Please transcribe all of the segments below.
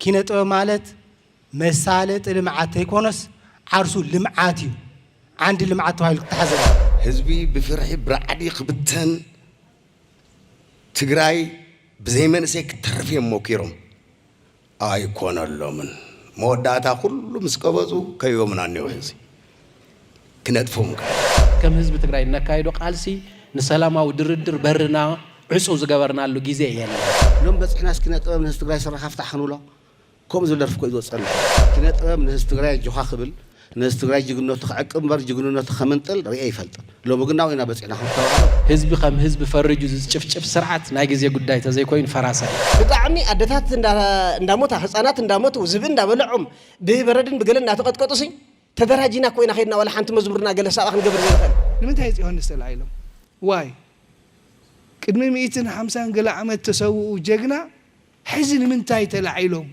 ኪነ ጥበብ ማለት መሳለጢ ልምዓት ተይኮነስ ዓርሱ ልምዓት እዩ። ዓንዲ ልምዓት ተባሂሉ ክተሓዝ ኣለዎ። ህዝቢ ብፍርሒ ብራዕዲ ክብተን ትግራይ ብዘይ መንእሰይ ክትተርፍ እዮም ሞኪሮም። ኣይኮነሎምን። መወዳእታ ኩሉ ምስ ቀበፁ ከይቦምን ኣኒዉ ሕዚ። ክነጥፎም ግበር። ከም ህዝቢ ትግራይ እነካይዶ ቃልሲ ንሰላማዊ ድርድር በርና ዕፁው ዝገበርናሉ ጊዜ የለን። ሎም በፂሕና እስኪ ኪነ ጥበብ ንህዝቢ ትግራይ ስረካ ፍታሕ ክንብሎ ከምኡ ዝብል ደርፊ እኮ እዩ ዝወፀና። ኪነ ጥበብ ንህዝቢ ትግራይ ኣጆካ ክብል ንህዝቢ ትግራይ ጅግንነቱ ክዕቅብ እምበር ጅግንነቱ ከምንጥል ሪኤ ኣይፈልጥን ሎሚ ግን ናብኡ ኢና በፂሕና ከም ዝተባህለ። ህዝቢ ከም ህዝቢ ፈሪጁ ዝጭፍጭፍ ስርዓት ናይ ግዜ ጉዳይ ተዘይኮይኑ ፈራሲ ኣይኮነን። ብጣዕሚ ኣደታት እንዳሞታ ህፃናት እንዳሞቱ ዝብኢ እንዳበለዖም ብበረድን ብገለን እንዳተቀጥቀጡ ሲ ተደራጂና እኮ ኢና ከድና ዋላ ሓንቲ መዝሙርና ገለ ሳባ ክንገብር ዘይንክእል። ንምንታይ እፅ ዮሃንስ ተላዒሎም ዋይ ቅድሚ ሚኢትን ሓምሳን ገለ ዓመት ተሰውኡ ጀግና ሕዚ ንምንታይ ተላዒሎም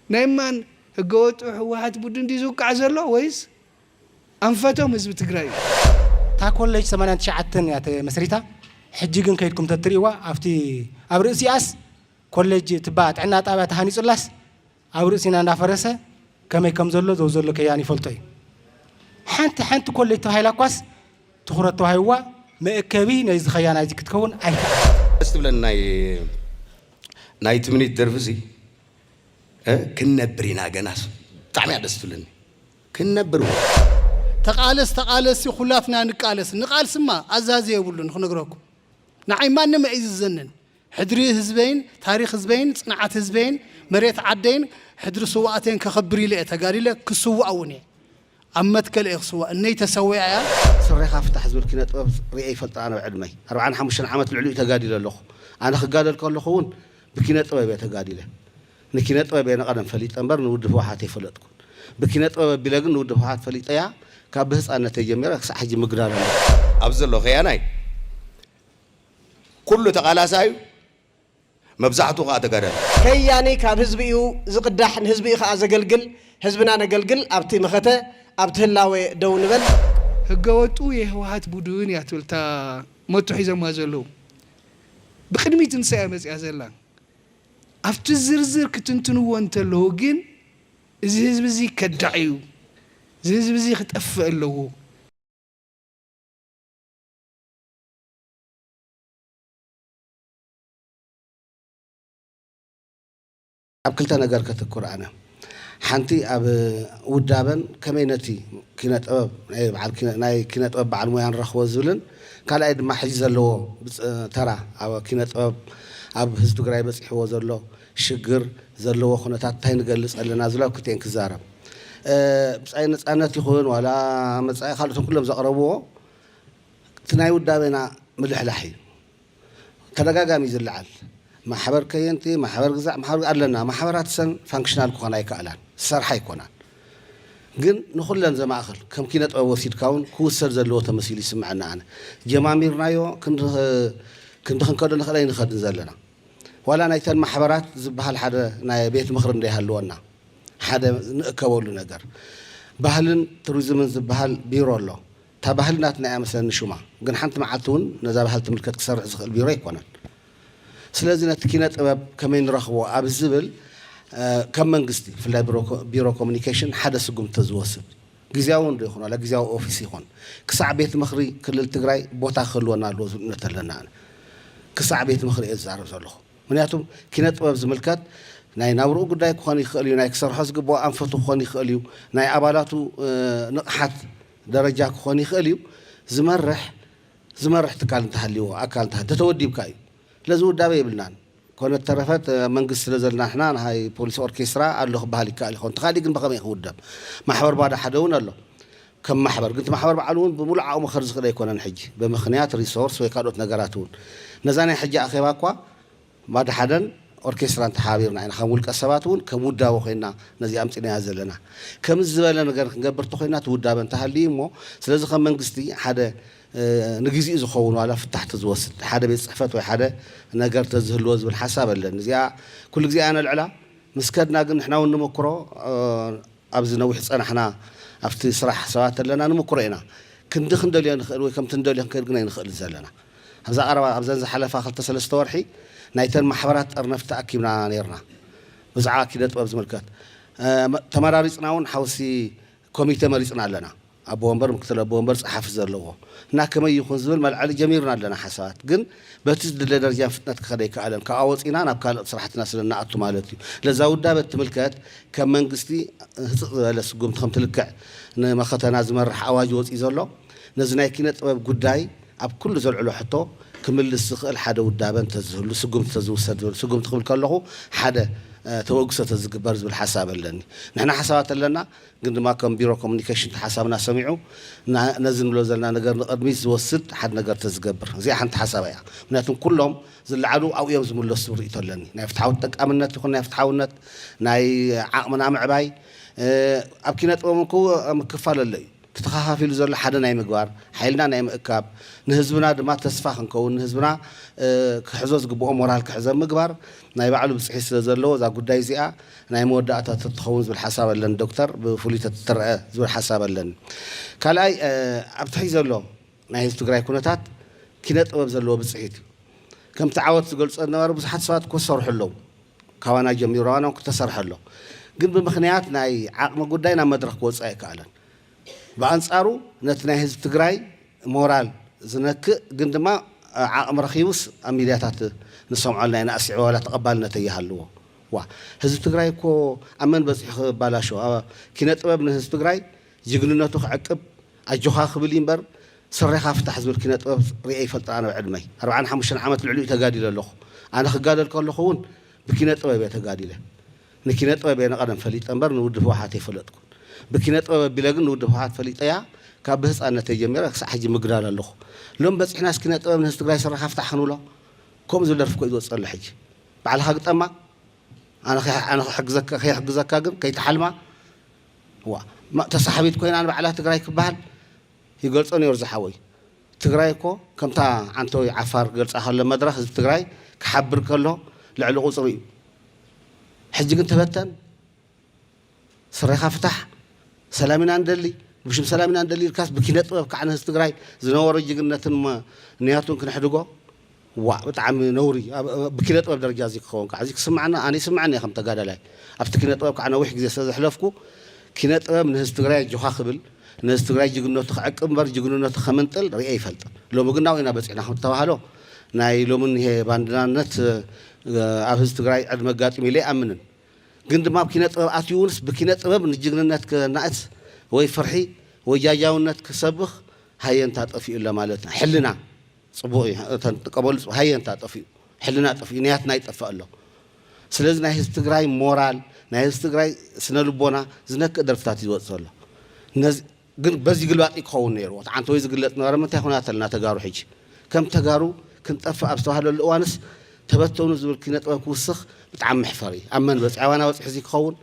ናይ ማን ህገወጡ ህወሓት ቡድን ድዩ ዝውቃዕ ዘሎ ወይስ ኣንፈቶም ህዝቢ ትግራይ እዩ። እታ ኮለጅ ሰማንያን ትሽዓተን እያ ተመስሪታ ሕጂ ግን ከይድኩም ተትሪእዋ ኣብቲ ኣብ ርእሲኣስ ኮለጅ ትባ ጥዕና ጣብያ ተሃኒጹላስ ኣብ ርእሲና እንዳፈረሰ ከመይ ከም ዘሎ ዘውዘሎ ከያን ይፈልጦ እዩ። ሓንቲ ሓንቲ ኮለጅ ተባሂላ እኳስ ትኹረት ተዋሂብዋ መእከቢ ናይዚ ከያ ናይዚ ክትከውን ኣይከኣለን። ደስ ትብለኒ ናይ ናይ ትምኒት ደርፊ እዚ እ ክንነብር ኢና ገናስ ብጣዕሚ እያ ደስ ትብለኒ ክንነብር እወ። ተቃለስ ተቃለስ ሲ ኩላትና ንቃለስ ንቃልስማ ኣዛዚ የብሉን ክነግረኩም ንዓይ ማንም ኣይ ዝዘንን ሕድሪ ህዝበይን ታሪኽ ህዝበይን ጽንዓት ህዝበይን መሬት ዓደይን ሕድሪ ስውኣተይን ከኽብር ኢለ እየ ተጋዲለ ክስዋእ እውን እየ ኣብ መትከል እየ ክስዋእ እነይ ተሰዊኣ እያ። ስሬኻ ፍታሕ ዝብል ኪነ ጥበብ ሪኤ ይፈልጥ ኣነ ኣብ ዕድመይ ኣርብዓን ሓሙሽተን ዓመት ልዕሊኡ ተጋዲለ ኣለኹ ኣነ ክጋደል ከለኹ ውን ብኪነ ጥበብ እየ ተጋዲለ ንኪነ ጥበብ እየ ንቀደም ፈሊጠ እምበር ንውድብ ህውሓት ኣይፈለጥኩን ብኪነ ጥበብ ኣቢለ ግን ንውድብ ህውሓት ፈሊጠያ ካብ ብህጻነተይ ጀሚረ ክሳዕ ሕጂ ምግዳል ኣለኹ ኣብዚ ዘለኹ ከያናይ ኩሉ ተቃላሳይ እዩ መብዛሕትኡ ከኣ ተጋዳላይ። ከያኒ ካብ ህዝቢ እዩ ዝቅዳሕ ንህዝቢ እዩ ከኣ ዘገልግል ህዝብና ነገልግል ኣብቲ መኸተ ኣብቲ ህላወ ደው ንበል። ህገወጡ የህወሓት ቡዱን እያ ትብል እታ ሞቶ ሒዞማ ዘለዉ ብቅድሚት ንሳ እያ መፂኣ ዘላ ኣብቲ ዝርዝር ክትንትንዎ እንተለዉ ግን እዚ ህዝቢ እዚ ከዳዕ እዩ እዚ ህዝቢ እዚ ክጠፍእ ኣለዎ ኣብ ክልተ ነገር ከትኩር ኣነ ሓንቲ ኣብ ውዳበን ከመይ ነቲ ኪነ ጥበብ ናይ በዓል ኪነ- ናይ ኪነ ጥበብ በዓል ሞያ ንረኽቦ ዝብልን ካልኣይ ድማ ሕጂ ዘለዎ ብፅ- ተራ ኣብ ኪነ ጥበብ ኣብ ህዝቢ ትግራይ በፂሕዎ ዘሎ ሽግር ዘለዎ ኩነታት እንታይ ንገልፅ ኣለና ዝብሉ ኣብ ክልቲኤን ክዛረብ እ፣ ብፃይ ነፃነት ይኹን ዋላ መፃኢ ካልኦት እቶም ኩሎም ዘቕረብዎ እቲ ናይ ውዳቤና ምልሕላሕ እዩ ተደጋጋሚ ዝለዓል። ማሕበር ከየንቲ፣ ማሕበር ግዛዕ፣ ማሕበር ኣለና። ማሕበራት ሰን ፋንክሽናል ክኾና ኣይከኣላን፣ ዝሰርሓ ኣይኮናን። ግን ንኹለን ዘማእኽል ከም ኪነ ጥበብ ወሲድካ እውን ክውሰድ ዘለዎ ተመሲሉ ይስምዐና ኣነ። ጀማሚርናዮ ክንዲ ክንዲ ክንከዶ ንኽእል ኣይንኸድን ዘለና። ዋላ ናይተን ማሕበራት ዝበሃል ሓደ ናይ ቤት ምኽሪ እንተይሃልወና ሓደ ንእከበሉ ነገር። ባህልን ቱሪዝምን ዝበሃል ቢሮ ኣሎ። እታ ባህሊ ናትና እያ መስለኒ ሹማ። ግን ሓንቲ መዓልቲ እውን ነዛ ባህሊ ትምልከት ክሰርሕ ዝኽእል ቢሮ ኣይኮነን። ስለዚ ነቲ ኪነ ጥበብ ከመይ ንረኽቦ ኣብ ዝብል ከም መንግስቲ ብፍላይ ቢሮ ኮሙኒኬሽን ሓደ ስጉምቲ ተዝወስድ። ግዝያዊ እውን ዶ ይኹን ዋላ ግዝያዊ ኦፊስ ይኹን ክሳዕ ቤት ምኽሪ ክልል ትግራይ ቦታ ክህልወና ኣለዎ ዝብል እምነት ኣለኒ ኣነ። ክሳዕ ቤት ምኽሪ እየ ዝዛረብ ዘለኹ። ምኽንያቱ ኪነ ጥበብ ዝምልከት ናይ ናብርኡ ጉዳይ ክኾን ይኽእል እዩ፣ ናይ ክሰርሖ ዝግበኦ ኣንፈቱ ክኾን ይኽእል እዩ፣ ናይ ኣባላቱ ንቕሓት ደረጃ ክኾን ይኽእል እዩ። ዝመርሕ ዝመርሕ ትካል እንተሃልይዎ፣ ኣካል እንተሃልይዎ፣ እንተተወዲብካ እዩ። ስለዚ ውዳበ የብልናን። ኮነት ተረፈት መንግስቲ ስለ ዘለና ንሕና ናይ ፖሊስ ኦርኬስትራ ኣሎ ክበሃል ይከኣል ይኸውን። እንተኻሊእ ግን ብኸመይ ክውደብ? ማሕበር ባዶ ሓደ እውን ኣሎ ከም ማሕበር። ግን እቲ ማሕበር ባዕሉ እውን ብምሉእ ዓቕሙ ክኸድ ዝኽእል ኣይኮነን ሕጂ ብምኽንያት ሪሶርስ ወይ ካልኦት ነገራት እውን። ነዛ ናይ ሕጂ ኣኼባ እኳ ማድሓደን ኦርኬስትራን ተሓባቢርና ኢና ከም ውልቀ ሰባት እውን ከም ውዳበ ኮይንና ነዚኣ ኣምፂእናያ ዘለና። ከምዚ ዝበለ ነገር ክንገብር እንተኾይንና እቲ ውዳበ እንተሃልዩ እዩ እሞ ስለዚ ከም መንግስቲ ሓደ ንግዚኡ ዝኸውን ዋላ ፍታሕ ተዝወስድ ሓደ ቤት ፅሕፈት ወይ ሓደ ነገር ተዝህልዎ ዝብል ሓሳብ ኣለኒ። እዚኣ ኩሉ ግዜ እያ ነልዕላ ምስ ከድና ግን ንሕና እውን ንመኩሮ ኣብዚ ነዊሕ ዝጸናሕና ኣብቲ ስራሕ ሰባት ኣለና ንሙኩሮ ኢና ክንዲ ክንደልዮ ንክእል ወይ ከምቲ ንደልዮ ክንከይድ ግን ኣይንክእልን ዘለና ኣብዛ ቀረባ ኣብዘን ዝሓለፋ ክልተ ሰለስተ ወርሒ ናይተን ማሕበራት ጠርነፍቲ ተኣኪብና ኔርና ብዝዓባ ኪነጥበብ ዝምልከት ተመራሪጽና ውን ሓውሲ ኮሚቴ መሪጽና ኣለና ኣቦ ወንበር፣ ምክትል ኣቦ ወንበር፣ ጸሓፊ ዘለዎ እና ከመይ ይኹን ዝብል መልዐሊ ጀሚርና ኣለና። ሓሳባት ግን በቲ ዝድለ ደርጃን ፍጥነት ክኸድ ኣይከኣለን። ካብኣ ወጺእና ናብ ካልኦት ስራሕትና ስለ እንኣቱ ማለት እዩ። ለዛ ውዳበ እትምልከት ከም መንግስቲ ህጽጽ ዝበለ ስጉምቲ ከም ትልክዕ ንመኸተና ዝመርሕ ኣዋጅ ወጺኡ ዘሎ ነዚ ናይ ኪነ ጥበብ ጉዳይ ኣብ ኩሉ ዘልዕሎ ሕቶ ክምልስ ዝኽእል ሓደ ውዳበ እንተዝህሉ ስጉምቲ ተዝውሰድ ዝብል ስጉምቲ ክብል ከለኹ ሓደ ተበግሶ ተዝግበር ዝብል ሓሳብ ኣለኒ። ንሕና ሓሳባት ኣለና። ግን ድማ ከም ቢሮ ኮሙኒኬሽን እቲ ሓሳብና ሰሚዑ ነዚ ንብሎ ዘለና ነገር ንቕድሚት ዝወስድ ሓደ ነገር ተዝገብር። እዚኣ ሓንቲ ሓሳበይ እያ። ምኽንያቱ ኩሎም ዝለዓሉ ኣብኡ እዮም ዝምለሱ ዝብል ርእይቶ ኣለኒ። ናይ ፍትሓዊ ተጠቃምነት ይኹን ናይ ፍትሓውነት፣ ናይ ዓቕምና ምዕባይ፣ ኣብ ኪነ ጥበብ እኮ ምክፋል ኣሎ እዩ። እቲ ተኸፋፊሉ ዘሎ ሓደ ናይ ምግባር፣ ሓይልና ናይ ምእካብ፣ ንህዝብና ድማ ተስፋ ክንከውን፣ ንህዝብና ክሕዞ ዝግብኦ ሞራል ክሕዝ ኣብ ምግባር፣ ናይ ባዕሉ ብፅሒት ስለ ዘለዎ እዛ ጉዳይ እዚኣ ናይ መወዳእታ ተትኸውን ዝብል ሓሳብ ኣለኒ ዶክተር ብፍሉይ ተትትረኣ ዝብል ሓሳብ ኣለኒ ካልኣይ ኣብቲ ሕዚ ዘሎ ናይ ህዝቢ ትግራይ ኩነታት ኪነ ጥበብ ዘለዎ ብፅሒት እዩ ከምቲ ዓወት ዝገልፆ ዝነበረ ብዙሓት ሰባት እኮ ዝሰርሑ ኣለዉ ካባና ጀሚሩ ኣባና እውን ክተሰርሐ ኣሎ ግን ብምክንያት ናይ ዓቕሚ ጉዳይ ናብ መድረኽ ክወፅእ ኣይከኣለን ብኣንፃሩ ነቲ ናይ ህዝቢ ትግራይ ሞራል ዝነክእ ግን ድማ ዓቕሚ ረኺቡስ ኣብ ሚድያታት ንሰምዖ ኣለና ኢና ኣስዒቡ ዋላ ተቐባልነት ኣይሃልዎ ዋእ ህዝቢ ትግራይ እኮ ኣብ መን በፂሑ ከባላሾ ኪነ ጥበብ ንህዝቢ ትግራይ ጅግንነቱ ክዕቅብ ኣጆኻ ክብል እዩ እምበር ስሬኻ ፍታሕ ዝብል ኪነ ጥበብ ሪኤ ይፈልጥን ኣነ ኣብ ዕድመይ ኣርብዓን ሓሙሽተን ዓመት ልዕሊኡ ተጋዲለ ኣለኹ ኣነ ክጋደል ከለኹ እውን ብኪነ ጥበብ እየ ተጋዲለ ንኪነ ጥበብ እየ ንቀደም ፈሊጠ እምበር ንውድብ ህወሓት ኣይፈለጥኩን። ብኪነ ጥበብ ኣቢለ ግን ንውድብ ህወሓት ፈሊጠያ ካብ ብህፃነተይ ጀሚረ ክሳዕ ሕጂ ምግዳል ኣለኹ። ሎሚ በፂሕናስ ኪነ ጥበብ ንህዝቢ ትግራይ ሰራኻ ፍታሕ ክንብሎ? ከምኡ ዝብል ደርፊ እኮ እዩ ዝወፅእ ዘሎ ሕጂ። ባዕልኻ ግጠማ ኣነ ኣነ ክሕግዘካ ከይሕግዘካ ግን ከይትሓልማ ዋእ ተሳሓቢት ኮይና ንባዕላ ትግራይ ክበሃል ይገልፆ ነይሩ ዝሓወይ። ትግራይ እኮ ከምታ ዓንተወይ ዓፋር ክገልጻ ከሎ መድረኽ ህዝቢ ትግራይ ክሓብር ከሎ ልዕሊ ቁጽሪ እዩ ሕጂ ግን ተበተን ስረኻ ፍታሕ ሰላም ኢና ንደሊ ብሽም ሰላም ኢና ንደሊ ኢልካስ ብኪነ ጥበብ ካዕነ ህዝቢ ትግራይ ዝነበሮ ጅግነትን ንያቱን ክነሕድጎ ዋእ ብጣዕሚ ነውሪ ብኪነ ጥበብ ደረጃ እዚ ክኸውን ካዓ እዚ ክስመዓና ኣነ ይስመዐኒ እየ ከም ተጋዳላይ ኣብቲ ኪነ ጥበብ ካዓ ነዊሕ ግዜ ስለ ዘሕለፍኩ ኪነ ጥበብ ንህዝቢ ትግራይ ኣጆኻ ክብል ንህዝቢ ትግራይ ጅግንነቱ ክዕቅብ እምበር ጅግንነቱ ከምንጥል ሪኤ ኣይፈልጥን ሎሚ ግን ናብኡ ኢና በፂሕና ከም ዝተባሃሎ ናይ ሎሚ እኒሄ ባንድናነት ኣብ ህዝቢ ትግራይ ዕድመ ኣጋጢሙ ኢለ ኣይኣምንን ግን ድማ ኣብ ኪነ ጥበብ ኣትዩ እውንስ ብኪነ ጥበብ ንጅግንነት ከናእስ ወይ ፍርሒ ወይ ጃጃውነት ክሰብኽ ሃየንታ ጠፊኡለ ማለት ሕልና ጽቡቅ እዩ እተን ትቀበሉ ጽቡቅ ሃየ እንታ ጠፊኡ ሕልና ጠፊኡ ንያትና ይጠፍእ ኣሎ ስለዚ ናይ ህዝቢ ትግራይ ሞራል ናይ ህዝቢ ትግራይ ስነ ልቦና ዝነክእ ደርፍታት እዩ ዝወጽእ ዘሎ ነዚ ግን በዚ ግልባጥ እዩ ክኸውን ነይርዎ እቲ ዓንተወይ ዝግለጽ ነበረ ምንታይ ኩናት ኣለና ተጋሩ ሕጂ ከም ተጋሩ ክንጠፍእ ኣብ ዝተባህለሉ እዋንስ ተበተኑ ዝብል ኪነ ጥበብ ክውስኽ ብጣዕሚ መሕፈሪ እዩ ኣብ መን በጽዕዋና በጽሒ እዚ ክኸውን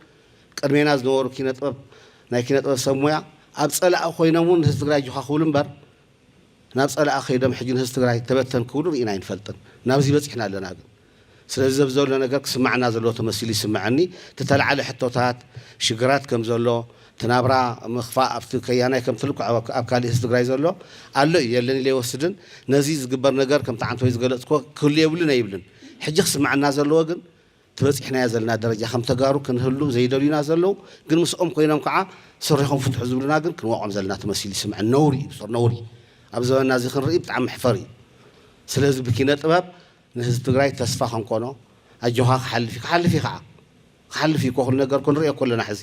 ቅድሜና ዝነበሩ ኪነ ጥበብ ናይ ኪነ ጥበብ ሰብ ሞያ ኣብ ጸላኢ ኮይኖም እውን ንህዝቢ ትግራይ ጆኻ ክብሉ እምበር ናብ ፀላኢ ከይዶም ሕጂ ንህዝቢ ትግራይ ተበተን ክብሉ ሪኢና ኣይንፈልጥን ናብዚ በፂሕና ኣለና ግን ስለዚ ዘዚ ዘሎ ነገር ክስመዐና ዘለዎ ተመሲሉ ይስመዐኒ ትተላዓለ ሕቶታት ሽግራት ከምዘሎ ትናብራ ምክፋእ ኣብቲ ከያናይ ከምትልኩዕ ኣብ ካሊእ ህዝቢ ትግራይ ዘሎ ኣሎ እዩ የለን ኢለ ኣይወስድን ነዚ ዝግበር ነገር ከምቲ ዓንተወይ ዝገለፅክዎ ክህሉ የብሉን ኣይብልን ሕጂ ክስመዐና ዘለዎ ግን ትበጺሕናዮ ዘለና ደረጃ ከም ተጋሩ ክንህሉ ዘይደልዩና ዘለዉ ግን ምስኦም ኮይኖም ከኣ ስሪኹም ፍትሑ ዝብሉና ግን ክንወቕዖም ዘለና ተመሲሉ ይስምዐኒ ነውሪ እዩ ብጾር ነውሪ ኣብ ዘበንና እዚ ክንርኢ ብጣዕሚ መሕፈሪ እዩ ስለዚ ብኪነ ጥበብ ንህዝቢ ትግራይ ተስፋ ከንኮኖ ኣጆኻ ክሓልፍ እዩ ክሓልፍ እዩ ከኣ ክሓልፍ እዩ እኮ ኩሉ ነገር እኮ ንርእዮ እኮ ኣለና ሕዚ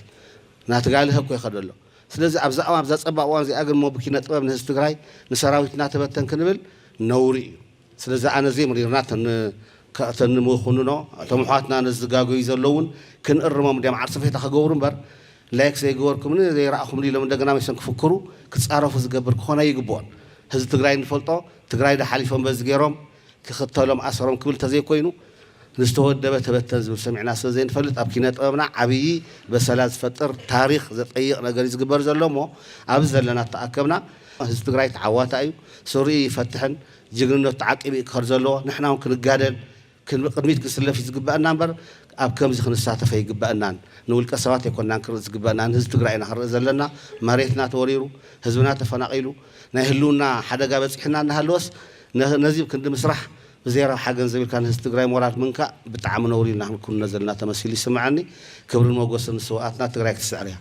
ናትጋልሀ እኮ ይኸዶ ኣሎ ስለዚ ኣብዛ ኣብዛ ጸባብ እዋን እዚኣ ግን እሞ ብኪነ ጥበብ ንህዝቢ ትግራይ ንሰራዊት እናተበተን ክንብል ነውሪ እዩ ስለዚ ኣነ ዘይምሪርና እተን ንምኹንኖ እቶም ኣሕዋትና ነዚ ዝጋገዩ ዘለዉ እውን ክንእርሞም እንድዮም ዓርሰፌታ ክገብሩ እምበር ላይክ ዘይገበርኩምኒ ዘይረኣኹምኒ ኢሎም እንደገና መሰን ክፍክሩ ክፃረፉ ዝገብር ክኾን ኣይግብኦን ህዝቢ ትግራይ እንፈልጦ ትግራይ ዶ ሓሊፎም በዚ ገይሮም ክኽተሎም ኣሰሮም ክብል እንተዘይኮይኑ ንዝተወደበ ተበተን ዝብል ሰሚዕና ስለ ዘይንፈልጥ ኣብ ኪነ ጥበብና ዓብዪ በሰላ ዝፈጥር ታሪኽ ዘጠይቕ ነገር እዩ ዝግበር ዘሎ እሞ ኣብዚ ዘለና እተኣከብና ህዝቢ ትግራይ ተዓዋታይ እዩ ስሪኡ ይፈትሕን ጅግንነቱ ተዓቂቡ እዩ ክኸድ ዘለዎ ንሕና እውን ክንጋደል ቅድሚት ክንስለፍ እዩ ዝግበእና እምበር ኣብ ከምዚ ክንሳተፍ ኣይግበእናን ንውልቀ ሰባት ኣይኮናን ክንርኢ ዝግበእና ንህዝቢ ትግራይ ኢና ክንርኢ ዘለና መሬትና ተወሪሩ ህዝብና ተፈናቒሉ ናይ ህልውና ሓደጋ በፂሑና እናሃለወስ ነዚ ክንዲ ምስራሕ ብዜሮ ሓገን ዘቢልካ ንህዝቢ ትግራይ ሞራል ምንካእ ብጣዕሚ ነውሪ ኢና ክንኩንኖ ዘለና ተመሲሉ ይስመዐኒ ክብርን ሞጎስን ንስውኣትና ትግራይ ክትስዕር እያ።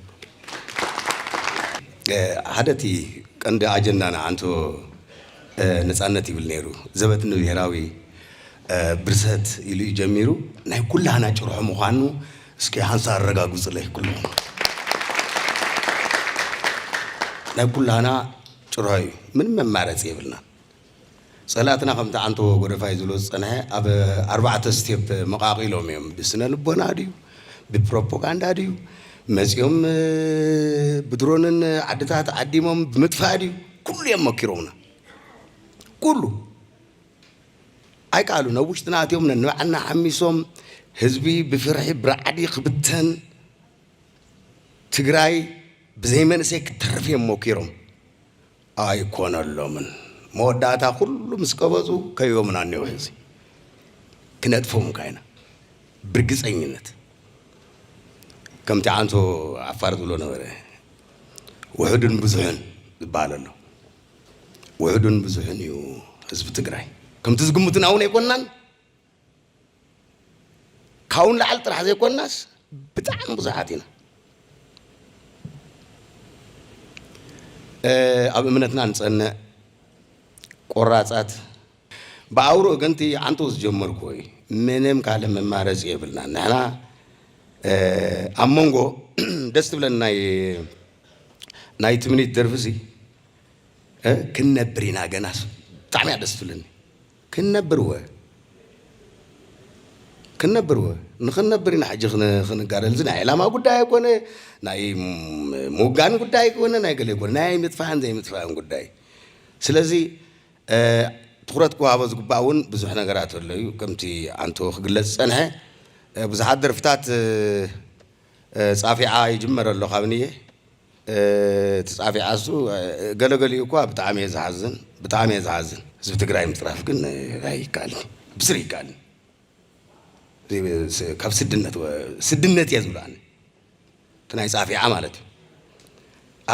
ሓደ እቲ ቀንዲ ኣጀንዳና ኣንቶ ነፃነት ይብል ነይሩ ዘበት ንብሄራዊ ብርሰት ኢሉ እዩ ጀሚሩ ናይ ኩላህና ጭርሖ ምዃኑ እስኪ ሃንሳ ኣረጋግፁለይ ኩሉኹም ናይ ኩላህና ጭርሖ እዩ ምንም መማረፂ የብልናን ፀላእትና ከምቲ ዓንተቦ ጎደፋይ ዝብሎ ዝፀንሐ ኣብ ኣርባዕተ ስቴፕ መቓቒሎም እዮም። ብስነ ልቦና ድዩ? ብፕሮፖጋንዳ ድዩ? መፂኦም ብድሮንን ዓድታት ዓዲሞም ብምጥፋእ ድዩ? ኩሉ እዮም መኪሮምና። ኩሉ ኣይከኣሉን። ኣብ ውሽጥና ኣትዮም ነንባዕልና ሓሚሶም ህዝቢ ብፍርሒ ብራዕዲ ክብተን ትግራይ ብዘይ መንእሰይ ክትተርፍ እዮም ሞኪሮም። ኣይኮነሎምን መወዳእታ ኩሉ ምስ ቀበጹ ከይቦምና እኔዉ ሕዚ ክነጥፍም እካ ኢና ብርግጸኝነት ከምቲ ዓንሶ ዓፋር ዝብሎ ነበረ ውሑድን ብዙሕን ዝባሃል ኣሎ ውሑድን ብዙሕን እዩ ህዝቢ ትግራይ ከምቲ ዝግምቱና እዉን ኣይኮናን ካብኡ ንላዕሊ ጥራሕ ዘይኮንናስ ብጣዕሚ ብዙሓት ኢና ኣብ እምነትና ንፀንዕ ቆራፃት ብኣውሮ ግን እቲ ዓንተው ዝጀመርኩ እዩ ምንም ካልእ መማረፂ የብልና ንሕና ኣብ መንጎ ደስ ትብለን ናይ ናይ ትምኒት ደርፊ እዚ ክንነብር ኢና ገናስ ብጣዕሚ እያ ደስ ትብለኒ ክንነብርወ ክንነብርወ ንክንነብር ኢና ሕጂ ክንጋደል እዚ ናይ ዕላማ ጉዳይ ኣይኮነ ናይ ምውጋን ጉዳይ ኣይኮነ ናይ ገለ ኣይኮነ ናይ ምጥፋእን ዘይምጥፋእን ጉዳይ ስለዚ ትኩረት ክወሃቦ ዝግባእ እውን ብዙሕ ነገራት ኣሎ እዩ ከምቲ ኣንቶ ክግለፅ ዝፀንሐ ብዙሓት ደርፍታት ፃፊዓ ይጅመር ኣሎ ካብንየ እቲ ጻፊዓሱ ገለ ገሊኡ እኳ ብጣዕሚ እየ ዝሓዝን ብጣዕሚ እየ ዝሓዝን ህዝቢ ትግራይ ምፅራፍ ግን ኣይካኣልን ብስሪ ኣይካኣልን ካብ ስድነት ስድነት እየ ዝብሎ ኣነ እቲ ናይ ፃፊዓ ማለት እዩ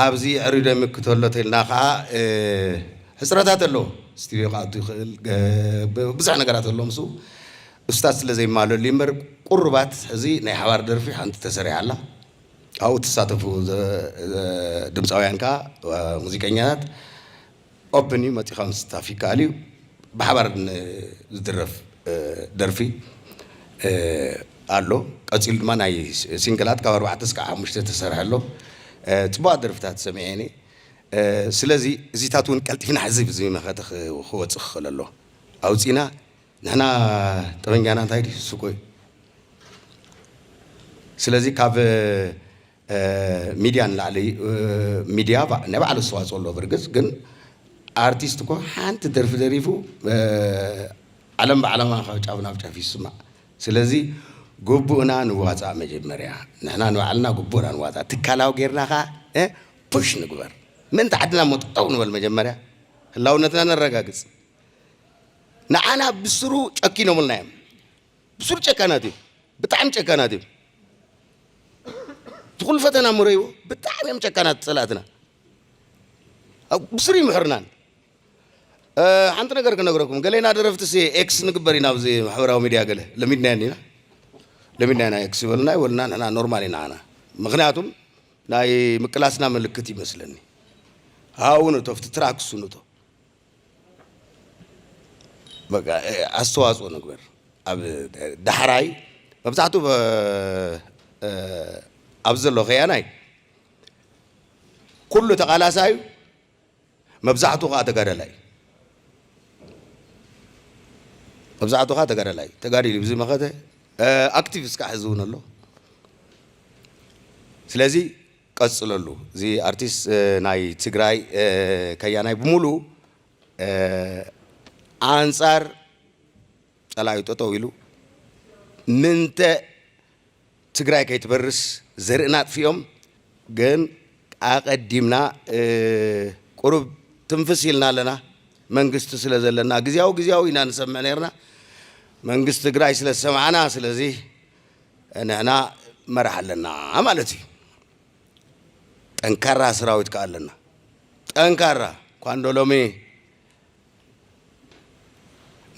ኣብዚ ዕሪ ደምክ ተሎ ተልና ከዓ ሕፅረታት ኣለዎ ስቱድዮ ክኣቱ ይኽእል ብዙሕ ነገራት ኣሎ ምስ እስታት ስለ ዘይማለሉ እምበር ቁሩባት ሕዚ ናይ ሓባር ደርፊ ሓንቲ ተሰሪሓ ኣላ ኣብኡ እትሳተፉ ድምፃውያን ከዓ ሙዚቀኛታት ኦፕን እዩ መፂእኻ ምስታፍ ይከኣል እዩ ብሓባር ዝድረፍ ደርፊ ኣሎ ቀፂሉ ድማ ናይ ሲንግላት ካብ ኣርባዕተ እስካዕ ሓሙሽተ ተሰርሐ ኣሎ ፅቡቓት ደርፍታት ሰሚዐ እኔ ስለዚ እዚታት እውን ቀልጢፍና ሕዚ ብዚ መኸተ ክወፅእ ክኽእል ኣሎ ኣውፂእና ንሕና ጠበንጃና እንታይ ድዩ ስቆ እዩ ስለዚ ካብ ሚድያ ንላዕሊ ሚድያ ናይ ባዕሉ ኣስተዋፅኦ ኣለዎ ብርግፅ ግን ኣርቲስት እኮ ሓንቲ ደርፊ ደሪፉ ዓለም ባዕላማ ካብ ጫፍ ናብ ጫፍ ይስማዕ ስለዚ ግቡእና ንዋፃእ መጀመርያ ንሕና ንባዕልና ግቡእና ንዋፃእ ትካላዊ ጌርና ከዓ ፑሽ ንግበር ምእንቲ ዓድና ሞ ጠጠው ንበል መጀመርያ ህላውነትና ነረጋግፅ ንዓና ብስሩ ጨኪኖምልና እዮም ብሱር ጨካናት እዩ ብጣዕሚ ጨካናት እዩ ትኩሉ ፈተና ምረይዎ ብጣዕሚ እዮም ጨካናት ፀላእትና ብስሩ ይምሕርናን ሓንቲ ነገር ክነግረኩም ገሌና ደረፍቲ ሲ ኤክስ ንግበር ኢና ኣብዚ ማሕበራዊ ሚድያ ገለ ለሚድና ኢና ለሚድና ኢና ኤክስ ይበልና ይበልና ንሕና ኖርማል ኢና ኣና ምክንያቱም ናይ ምቅላስና ምልክት ይመስለኒ ሃውን እቶ ፍቲ ትራክሱን እቶ ኣስተዋፅኦ ንግበር ኣብ ዳሕራይ መብዛሕትኡ ኣብዚ ዘሎ ከያናይ ኩሉ ተቓላሳይ እዩ፣ መብዛሕትኡ ከዓ ተጋዳላይ እዩ። መብዛሕትኡ ከዓ ተጋዳላይ እዩ፣ ተጋዲሉ እዩ፣ ብዙይ መኸተ ኣክቲቭ እስካዕ ሕዚ እውን ኣሎ። ስለዚ ቀፅለሉ እዚ ኣርቲስት ናይ ትግራይ ከያናይ ብሙሉ ኣንፃር ፀላኢኡ ጠጠው ኢሉ ምንተ ትግራይ ከይትበርስ ዘርእና ኣጥፊኦም ግን ኣቀዲምና ቁሩብ ትንፍስ ኢልና ኣለና መንግስቲ ስለ ዘለና ግዝያዊ ግዝያዊ ኢና ንሰምዕ ነይርና መንግስቲ ትግራይ ስለ ዝሰማዕና ስለዚ ንሕና መራሕ ኣለና ማለት እዩ ጠንካራ ስራዊት ከዓ ኣለና ጠንካራ ኳንዶ ሎሚ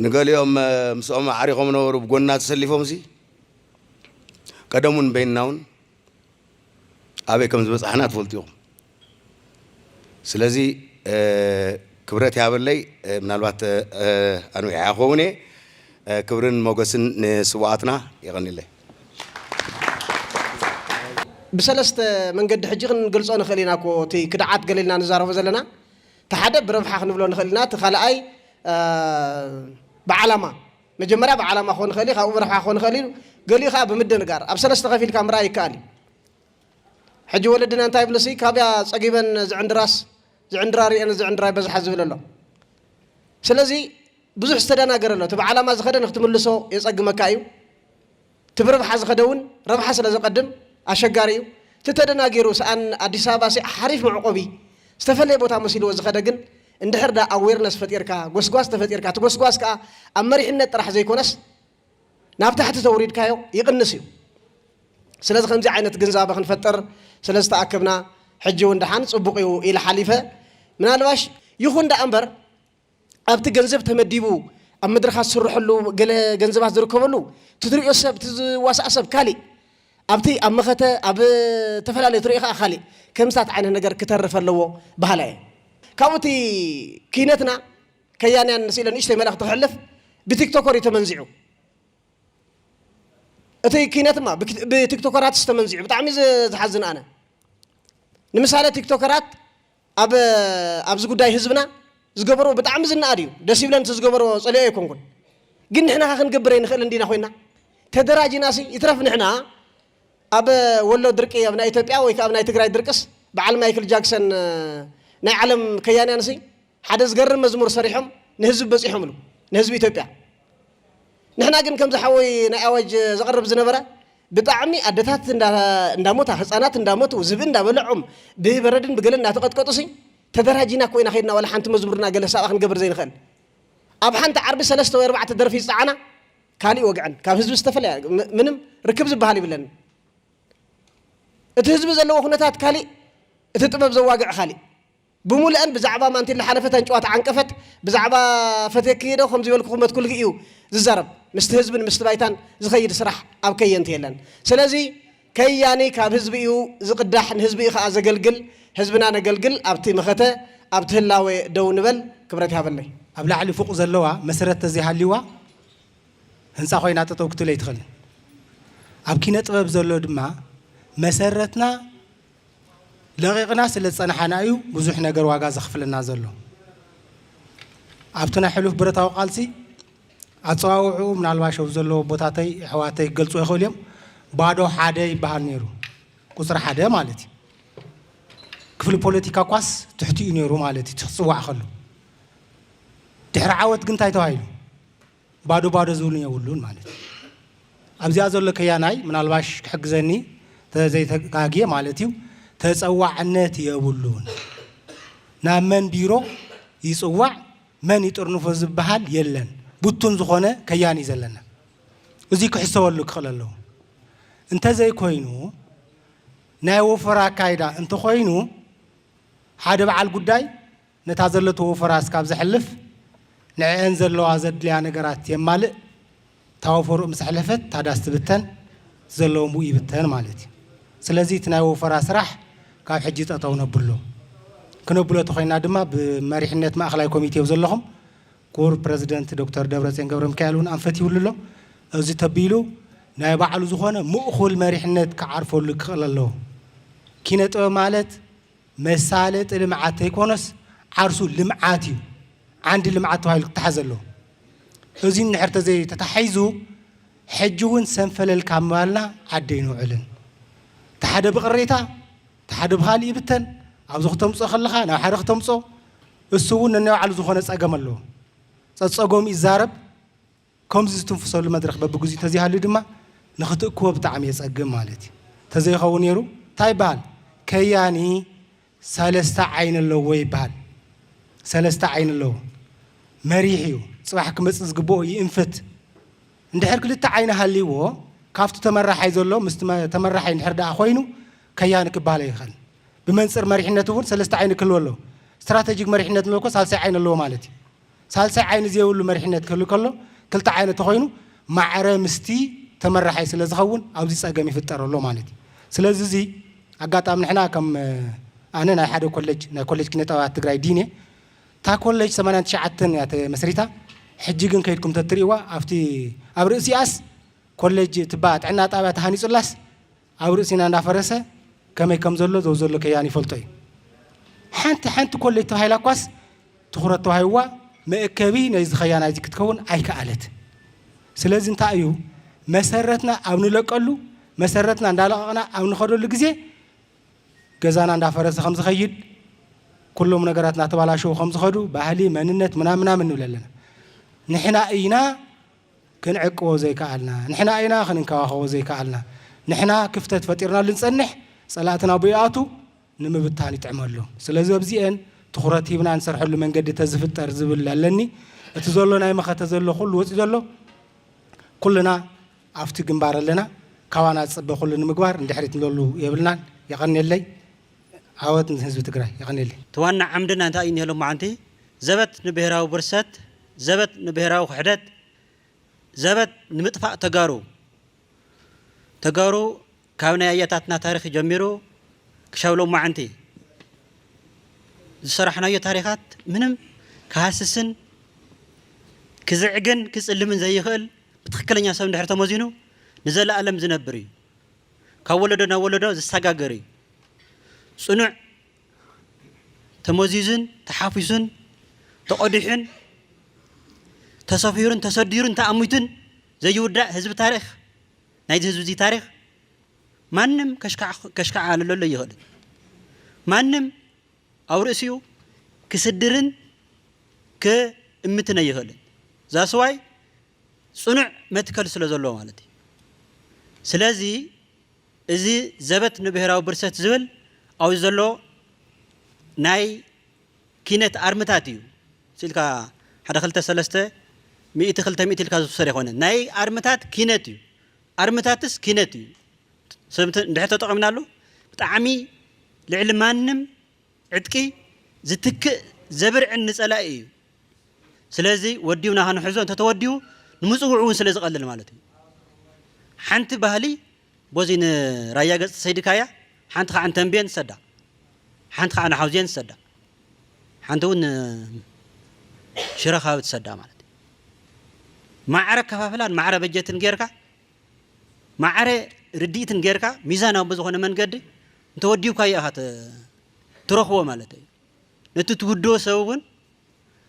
ንገሊኦም ምስኦም ኣዕሪኾም ነበሩ ብጎንና ተሰሊፎም ሲ ቀደሙን በይንናውን ኣበይ ከም ዝበጻሕና ትፈልጡ ኢኹም። ስለዚ ክብረት ይሃበለይ ምናልባት ኣንዊሐ ክኸውን እየ። ክብርን ሞገስን ንስውኣትና። የቐንየለይ። ብሰለስተ መንገዲ ሕጂ ክንገልጾ ንኽእል ኢና እኮ እቲ ክድዓት ገለ ኢልና ንዛረቦ ዘለና እቲ ሓደ ብረብሓ ክንብሎ ንኽእል ኢና እቲ ካልኣይ ብዓላማ መጀመርያ ብዓላማ ክኾን ይኽእል እዩ፣ ካብኡ ብረብሓ ክኾን ይኽእል እዩ፣ ገሊኡ ከኣ ብምድንጋር ኣብ ሰለስተ ከፊልካ ምርኣይ ይከኣል እዩ። ሕጂ ወለድና እንታይ ይብሉሲ ካብያ ጸጊበን ዝዕንድራስ ዝዕንድራ ሪኤን ዝዕንድራ ይበዝሓ ዝብል ኣሎ። ስለዚ ብዙሕ ዝተደናገረ ኣሎ። እቲ ብዓላማ ዝኸደ ንክትምልሶ የጸግመካ እዩ። እቲ ብረብሓ ዝኸደ እውን ረብሓ ስለ ዘቐድም ኣሸጋሪ እዩ። እቲ ተደናጊሩ ስኣን ኣዲስ ኣበባ ስዕ ሓሪፍ መዕቆቢ ዝተፈለየ ቦታ መሲልዎ ዝኸደ ግን እንድሕር ድኣ ኣዌርነስ ፈጢርካ ጎስጓስ ተፈጢርካ እቲ ጎስጓስ ከኣ ኣብ መሪሕነት ጥራሕ ዘይኮነስ ናብ ታሕቲ ተውሪድካዮ ይቕንስ እዩ። ስለዚ ከምዚ ዓይነት ግንዛበ ክንፈጥር ስለ ዝተኣከብና ሕጂ እውን ድሓን ጽቡቕ እዩ ኢለ ሓሊፈ። ምናልባሽ ይኹን ድኣ እምበር፣ ኣብቲ ገንዘብ ተመዲቡ ኣብ መድረኻት ዝስርሐሉ ገለ ገንዘባት ዝርከበሉ ትትሪኦ ሰብ እቲ ዝዋሳእ ሰብ ካሊእ ኣብቲ ኣብ መኸተ ኣብ ተፈላለዩ ትሪኦ ከዓ ካሊእ ከምስታት ዓይነት ነገር ክተርፍ ኣለዎ በሃላይ እየ ካብኡ እቲ ክይነትና ከያንያን ምስ ኢለ ንእሽተይ መልእኽቲ ክሕልፍ ብቲክቶኮር እዩ ተመንዚዑ እቲ ክይነትማ ብቲክቶከራት ዝተመንዚዑ ብጣዕሚ ዝሓዝን ኣነ ንምሳሌ ቲክቶከራት ኣብ ኣብዚ ጉዳይ ህዝብና ዝገበርዎ ብጣዕሚ ዝነኣድ እዩ ደስ ይብለን እቲ ዝገበርዎ ጸሊኦ ኣይኮንኩን ግን ንሕና ከ ክንገብር ኣይንኽእል እንዲና ኮይና ተደራጅና ሲ ይትረፍ ንሕና ኣብ ወሎ ድርቂ ኣብ ናይ ኢትዮጵያ ወይ ከ ኣብ ናይ ትግራይ ድርቅስ በዓል ማይክል ጃክሰን ናይ ዓለም ከያንያን ሲ ሓደ ዝገርም መዝሙር ሰሪሖም ንህዝቢ በጺሖምሉ ንህዝቢ ኢትዮጵያ ንሕና ግን ከምዚ ሓወይ ናይ ኣዋጅ ዘቕርብ ዝነበረ ብጣዕሚ ኣደታት እንዳሞታ ህፃናት እንዳሞቱ ዝብኢ እንዳበለዖም ብበረድን ብገለ እንዳተቐጥቀጡሲ ተደራጂና እኮ ኢና ከይድና ዋላ ሓንቲ መዝሙርና ገለ ሳባ ክንገብር ዘይንኽእል ኣብ ሓንቲ ዓርቢ ሰለስተ ወይ ኣርባዕተ ደርፊ ዝፀዓና ካሊእ ወግዐን ካብ ህዝቢ ዝተፈለያ ምንም ርክብ ዝበሃል ይብለን እቲ ህዝቢ ዘለዎ ኩነታት ካሊእ እቲ ጥበብ ዘዋግዕ ካሊእ ብሙልኣን ብዛዕባ ማንቲለ ሓለፈት ኣንጭዋ ተዓንቀፈት ብዛዕባ ፈትየኪ ክይደ ከምዚበልኩ ክመትኩልኪ እዩ ዝዛረብ ምስቲ ህዝብን ምስቲ ባይታን ዝከይድ ስራሕ ኣብ ከየንቲ የለን ስለዚ ከያኒ ካብ ህዝቢ እዩ ዝቅዳሕ ንህዝቢ እዩ ከኣ ዘገልግል ህዝብና ነገልግል ኣብቲ መኸተ ኣብቲ ህላወ ደው ንበል ክብረት ይሃበለይ። ኣብ ላዕሊ ፉቕ ዘለዋ መሰረት ተዘይሃልይዋ ህንጻ ኮይና ጠጠው ክትብል ኣይትኽእልን። ኣብ ኪነ ጥበብ ዘሎ ድማ መሰረትና ለቒቕና ስለ ዝጸናሓና እዩ ብዙሕ ነገር ዋጋ ዘኽፍለና ዘሎ። ኣብቲ ናይ ሕሉፍ ብረታዊ ቃልሲ ኣጸዋውዕኡ ምናልባሽ ኣብዚ ዘለዎ ኣቦታተይ ኣሕዋተይ ክገልጹዎ ይኽእሉ እዮም ባዶ ሓደ ይበሃል ነይሩ ቁጽሪ ሓደ ማለት እዩ ክፍሊ ፖለቲካ እኳስ ትሕቲኡ ነይሩ ማለት እዩ እቲ ክጽዋዕ ከሎ ድሕሪ ዓወት ግን እንታይ ተባሂሉ ባዶ ባዶ ዝብሉን የብሉን ማለት እዩ። ኣብዚኣ ዘሎ ከያናይ ምናልባሽ ክሕግዘኒ ተዘይተጋግየ ማለት እዩ ተፀዋዕነት የብሉን ናብ መን ቢሮ ይፅዋዕ መን ይጥርንፎ ዝበሃል የለን ብቱን ዝኾነ ከያኒ ዘለና እዙይ ክሕሰበሉ ክኽእል ኣለዎ እንተዘይኮይኑ ናይ ወፈራ ኣካይዳ እንተኾይኑ ሓደ በዓል ጉዳይ ነታ ዘለትዎ ፈራስ ካብ ዘሕልፍ ንዐኤን ዘለዋ ዘድልያ ነገራት የማልእ እታ ወፈርኡ ምስ ኣሕለፈት እታ ዳስ ትብተን ዘለዎ ምኡ ይብተን ማለት እዩ ስለዚ እቲ ናይ ወፈራ ስራሕ ካብ ሕጂ ጠጠው ነብሎ ክነብሎ ተኾይና ድማ ብመሪሕነት ማእኸላይ ኮሚቴ ብ ዘለኹም ክቡር ፕረዚደንት ዶክተር ደብረፅዮን ገብረሚካኤል እውን ኣንፈት ይብሉ ኣሎ እዚ ተቢሉ ናይ ባዕሉ ዝኾነ ምእኹል መሪሕነት ክዓርፈሉ ክኽእል ኣለዎ ኪነ ጥበብ ማለት መሳለጢ ልምዓት ተይኮነስ ዓርሱ ልምዓት እዩ ዓንዲ ልምዓት ተባሂሉ ክተሓዝ ኣለዎ። እዙይ እንድሕር ተዘይተታሒዙ ሕጂ እውን ሰንፈለል ካብ ምባልና ዓዲ ኣይንውዕልን። እቲ ሓደ ብቕሬታ እቲ ሓደ ብኻሊእ ይብተን። ኣብዚ ክተምፅኦ ከለኻ ናብ ሓደ ክተምፅኦ እሱ እውን ነናይ ባዕሉ ዝኾነ ፀገም ኣለዎ። ፀፀገሙ ይዛረብ ከምዚ ዝትንፍሰሉ መድረኽ በብግዚኡ ተዘይሃልዩ ድማ ንኽትእክቦ ብጣዕሚ የጸግም ማለት እዩ። ተዘይኸውን ነይሩ ታይ ይበሃል ከያኒ ሰለስተ ዓይኒ ኣለዎ ይበሃል። ሰለስተ ዓይኒ ኣለዎ መሪሕ እዩ ጽባሕ ክመጽእ ዝግብኦ ይእንፍት። እንድሕር ክልተ ዓይኒ ሃልይዎ ካብቲ ተመራሓይ ዘሎ ምስቲ ተመራሓይ እንድሕር ደኣ ኮይኑ ከያኒ ክበሃል ኣይኽእልን። ብመንጽር መሪሕነት እውን ሰለስተ ዓይኒ ክህልዎ ኣለዎ። ስትራተጂክ መሪሕነት ንብሎ እኮ ሳልሳይ ዓይኒ ኣለዎ ማለት እዩ። ሳልሳይ ዓይኒ ዘይብሉ መሪሕነት ክህሉ ከሎ ክልተ ዓይነት ተኾይኑ ማዕረ ምስቲ ተመራሓይ ስለ ዝኸውን ኣብዚ ፀገም ይፍጠር ኣሎ ማለት እዩ። ስለዚ እዚ ኣጋጣሚ ንሕና ከም ኣነ ናይ ሓደ ኮሌጅ ናይ ኮሌጅ ኪነ ጥበባት ትግራይ ዲን እየ። እታ ኮሌጅ ሰማንያን ትሽዓተን እያ ተመስሪታ ሕጂ ግን ከይድኩም ተትርእይዋ ኣብቲ ኣብ ርእሲኣስ ኮሌጅ ትባ ጥዕና ጣብያ ተሃኒፁላስ ኣብ ርእሲና እንዳፈረሰ ከመይ ከም ዘሎ ዘውዘሎ ከያን ይፈልጦ እዩ። ሓንቲ ሓንቲ ኮለጅ ተባሂላ እኳስ ትኹረት ተዋሂብዋ መእከቢ ናይዚ ከያ ናይዚ ክትከውን ኣይከኣለት። ስለዚ እንታይ እዩ መሰረትና ኣብ ንለቀሉ መሰረትና እንዳለቐቕና ኣብ ንኸደሉ ግዜ ገዛና እንዳፈረሰ ከም ዝኸይድ ኩሎም ነገራት እናተባላሸው ከም ዝኸዱ ባህሊ መንነት ምናምን ምናምን ንብል ኣለና ንሕና እይና ክንዕቅቦ ዘይከኣልና፣ ንሕና ኢና ክንንከባኸቦ ዘይከኣልና፣ ንሕና ክፍተት ፈጢርናሉ ንጸንሕ፣ ጸላእትና ኣብኡ ይኣትው፣ ንምብታን ይጥዕመሉ። ስለዚ ኣብዚኤን ትኹረት ሂብና ንሰርሐሉ መንገዲ ተዝፍጠር ዝብል ኣለኒ። እቲ ዘሎ ናይ መኸተ ዘሎ ኩሉ ወጺኡ ዘሎ ኩልና ኣብቲ ግንባር ኣለና። ካባና ዝጽበ ኩሉ ንምግባር ንድሕሪት ንብለሉ የብልናን። የቐንየለይ። ዓወት ንህዝቢ ትግራይ። የቐንየለይ። እቲ ዋና ዓምድና እንታይ እዩ እኒሀ ሎማዓንቲ? ዘበት ንብሄራዊ ብርሰት! ዘበት ንብሄራዊ ክሕደት ዘበት ንምጥፋእ ተጋሩ ተጋሩ ካብ ናይ ኣያታትና ታሪክ ጀሚሩ ክሻብ ሎማዓንቲ ዝሰራሕናዮ ታሪካት ምንም ክሃስስን ክዝዕግን ክፅልምን ዘይኽእል ብትክክለኛ ሰብ እንድሕር ተመዚኑ ንዘላኣለም ዝነብር እዩ ካብ ወለዶ ናብ ወለዶ ዝሳጋገር እዩ ፅኑዕ ተመዚዙን ተሓፊሱን ተቐዲሑን ተሰፊሩን ተሰዲሩን ተኣሚቱን ዘይውዳእ ህዝቢ ታሪኽ ናይዚ ህዝቢ እዚ ታሪኽ ማንም ከሽካዓልለሎ ኣይኽእልን። ማንም ኣብ ርእሲኡ ክስድርን ክእምትን ኣይኽእልን። ዛስዋይ ፅኑዕ መትከል ስለ ዘለዎ ማለት እዩ። ስለዚ እዚ ዘበት ንብሄራዊ ብርሰት ዝብል ኣብዚ ዘሎ ናይ ኪነት ኣርምታት እዩ ስኢልካ ሓደ ክልተ ሰለስተ ሚእቲ ክልተ ሚእቲ ኢልካ ዝውሰድ ኣይኮነን ናይ ኣርምታት ኪነት እዩ ኣርምታትስ ኪነት እዩ ሰብ እንድሕር ተጠቒምናሉ ብጣዕሚ ልዕሊ ማንም ዕጥቂ ዝትክእ ዘብርዕን ንጸላኢ እዩ። ስለዚ ወዲብና ክንሕዞ እንተ ተወዲቡ ንምጽውዑ እውን ስለ ዝቐልል ማለት እዩ። ሓንቲ ባህሊ ቦዚ ንራያ ገጽ ሰይድካያ ሓንቲ ከዓ ንተንቤን ንሰዳ ሓንቲ ከዓ ንሓውዜን ንሰዳ ሓንቲ እውን ሽረ ከባቢ ትሰዳ ማለት እዩ። ማዕረ ኣከፋፍላን ማዕረ በጀትን ጌርካ ማዕረ ርድኢትን ጌርካ ሚዛናዊ ብዝኾነ መንገዲ እንተወዲብካዮ ኢኻ ትረኽቦ ማለት እዩ። ነቲ ትውድቦ ሰብ እውን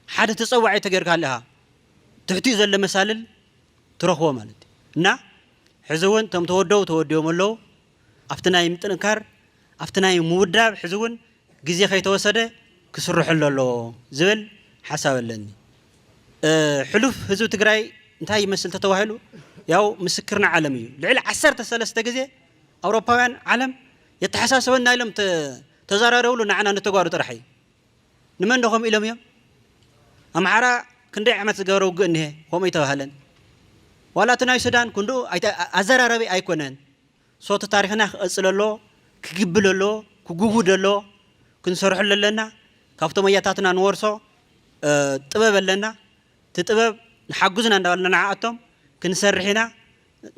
ሓደ ተፀዋዒ ተገይርካሉ ኢኻ ትሕቲኡ ዘሎ መሳልል ትረኽቦ ማለት እዩ እና ሕዚ እውን እቶም ተወደቡ ተወዲቦም ኣለዉ ኣብቲ ናይ ምጥንካር ኣብቲ ናይ ምውዳብ ሕዚ እውን ግዜ ከይተወሰደ ክስርሐሉ ኣለዎ ዝብል ሓሳብ ኣለኒ። ሕሉፍ ህዝቢ ትግራይ እንታይ ይመስል ተተባሂሉ ያው ምስክርና ዓለም እዩ ልዕሊ ዓሰርተ ሰለስተ ግዜ ኣውሮፓውያን ዓለም የተሓሳስበና ኢሎም ተዘራረብሉ ንዓና ንተጓሩ ጥራሕ እዩ ንመን ዶ ከምኡ ኢሎም እዮም ኣምሓራ ክንደይ ዓመት ዝገበረ ውግእ እኒሀ ከምኡ ኣይተባህለን ዋላ እቲ ናይ ሱዳን ክንድኡ ኣዘራረቢ ኣይኮነን ሶቲ ታሪክና ክቐፅለ ኣለዎ ክግብል ኣለዎ ክጉጉድ ኣለዎ ክንሰርሐሉ ኣለና ካብቶም ኣያታትና ንወርሶ ጥበብ ኣለና እቲ ጥበብ ንሓግዙና እንዳበልና ንዓኣቶም ክንሰርሕ ኢና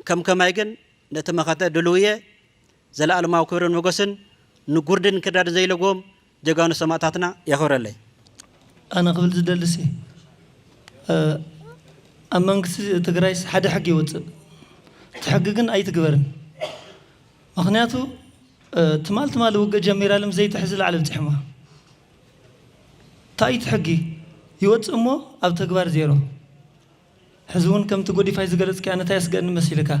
ከም ከማይ ግን ነቲ መኸተ ድሉው እየ። ዘላኣለማዊ ክብርን ሞገስን ንጉርድን እንክርዳድን ዘይለግቦም ጀጋኑ ሰማእታትና የኽብረለይ። ኣነ ክብል ዝደልሲ ኣብ መንግስቲ ትግራይስ ሓደ ሕጊ ይወፅእ እቲ ሕጊ ግን ኣይትግበርን ምክንያቱ ትማል ትማሊ ውግእ ጀሚራ ልም ዘይትሕዝ ላዕሊ ኣብፂሖማ ታይት ሕጊ ይወፅእ እሞ ኣብ ተግባር ዜሮ ሕዚ ውን ከምቲ ጎዲፋይ ዝገለጽካያ ነታ የስገድን መሲልካ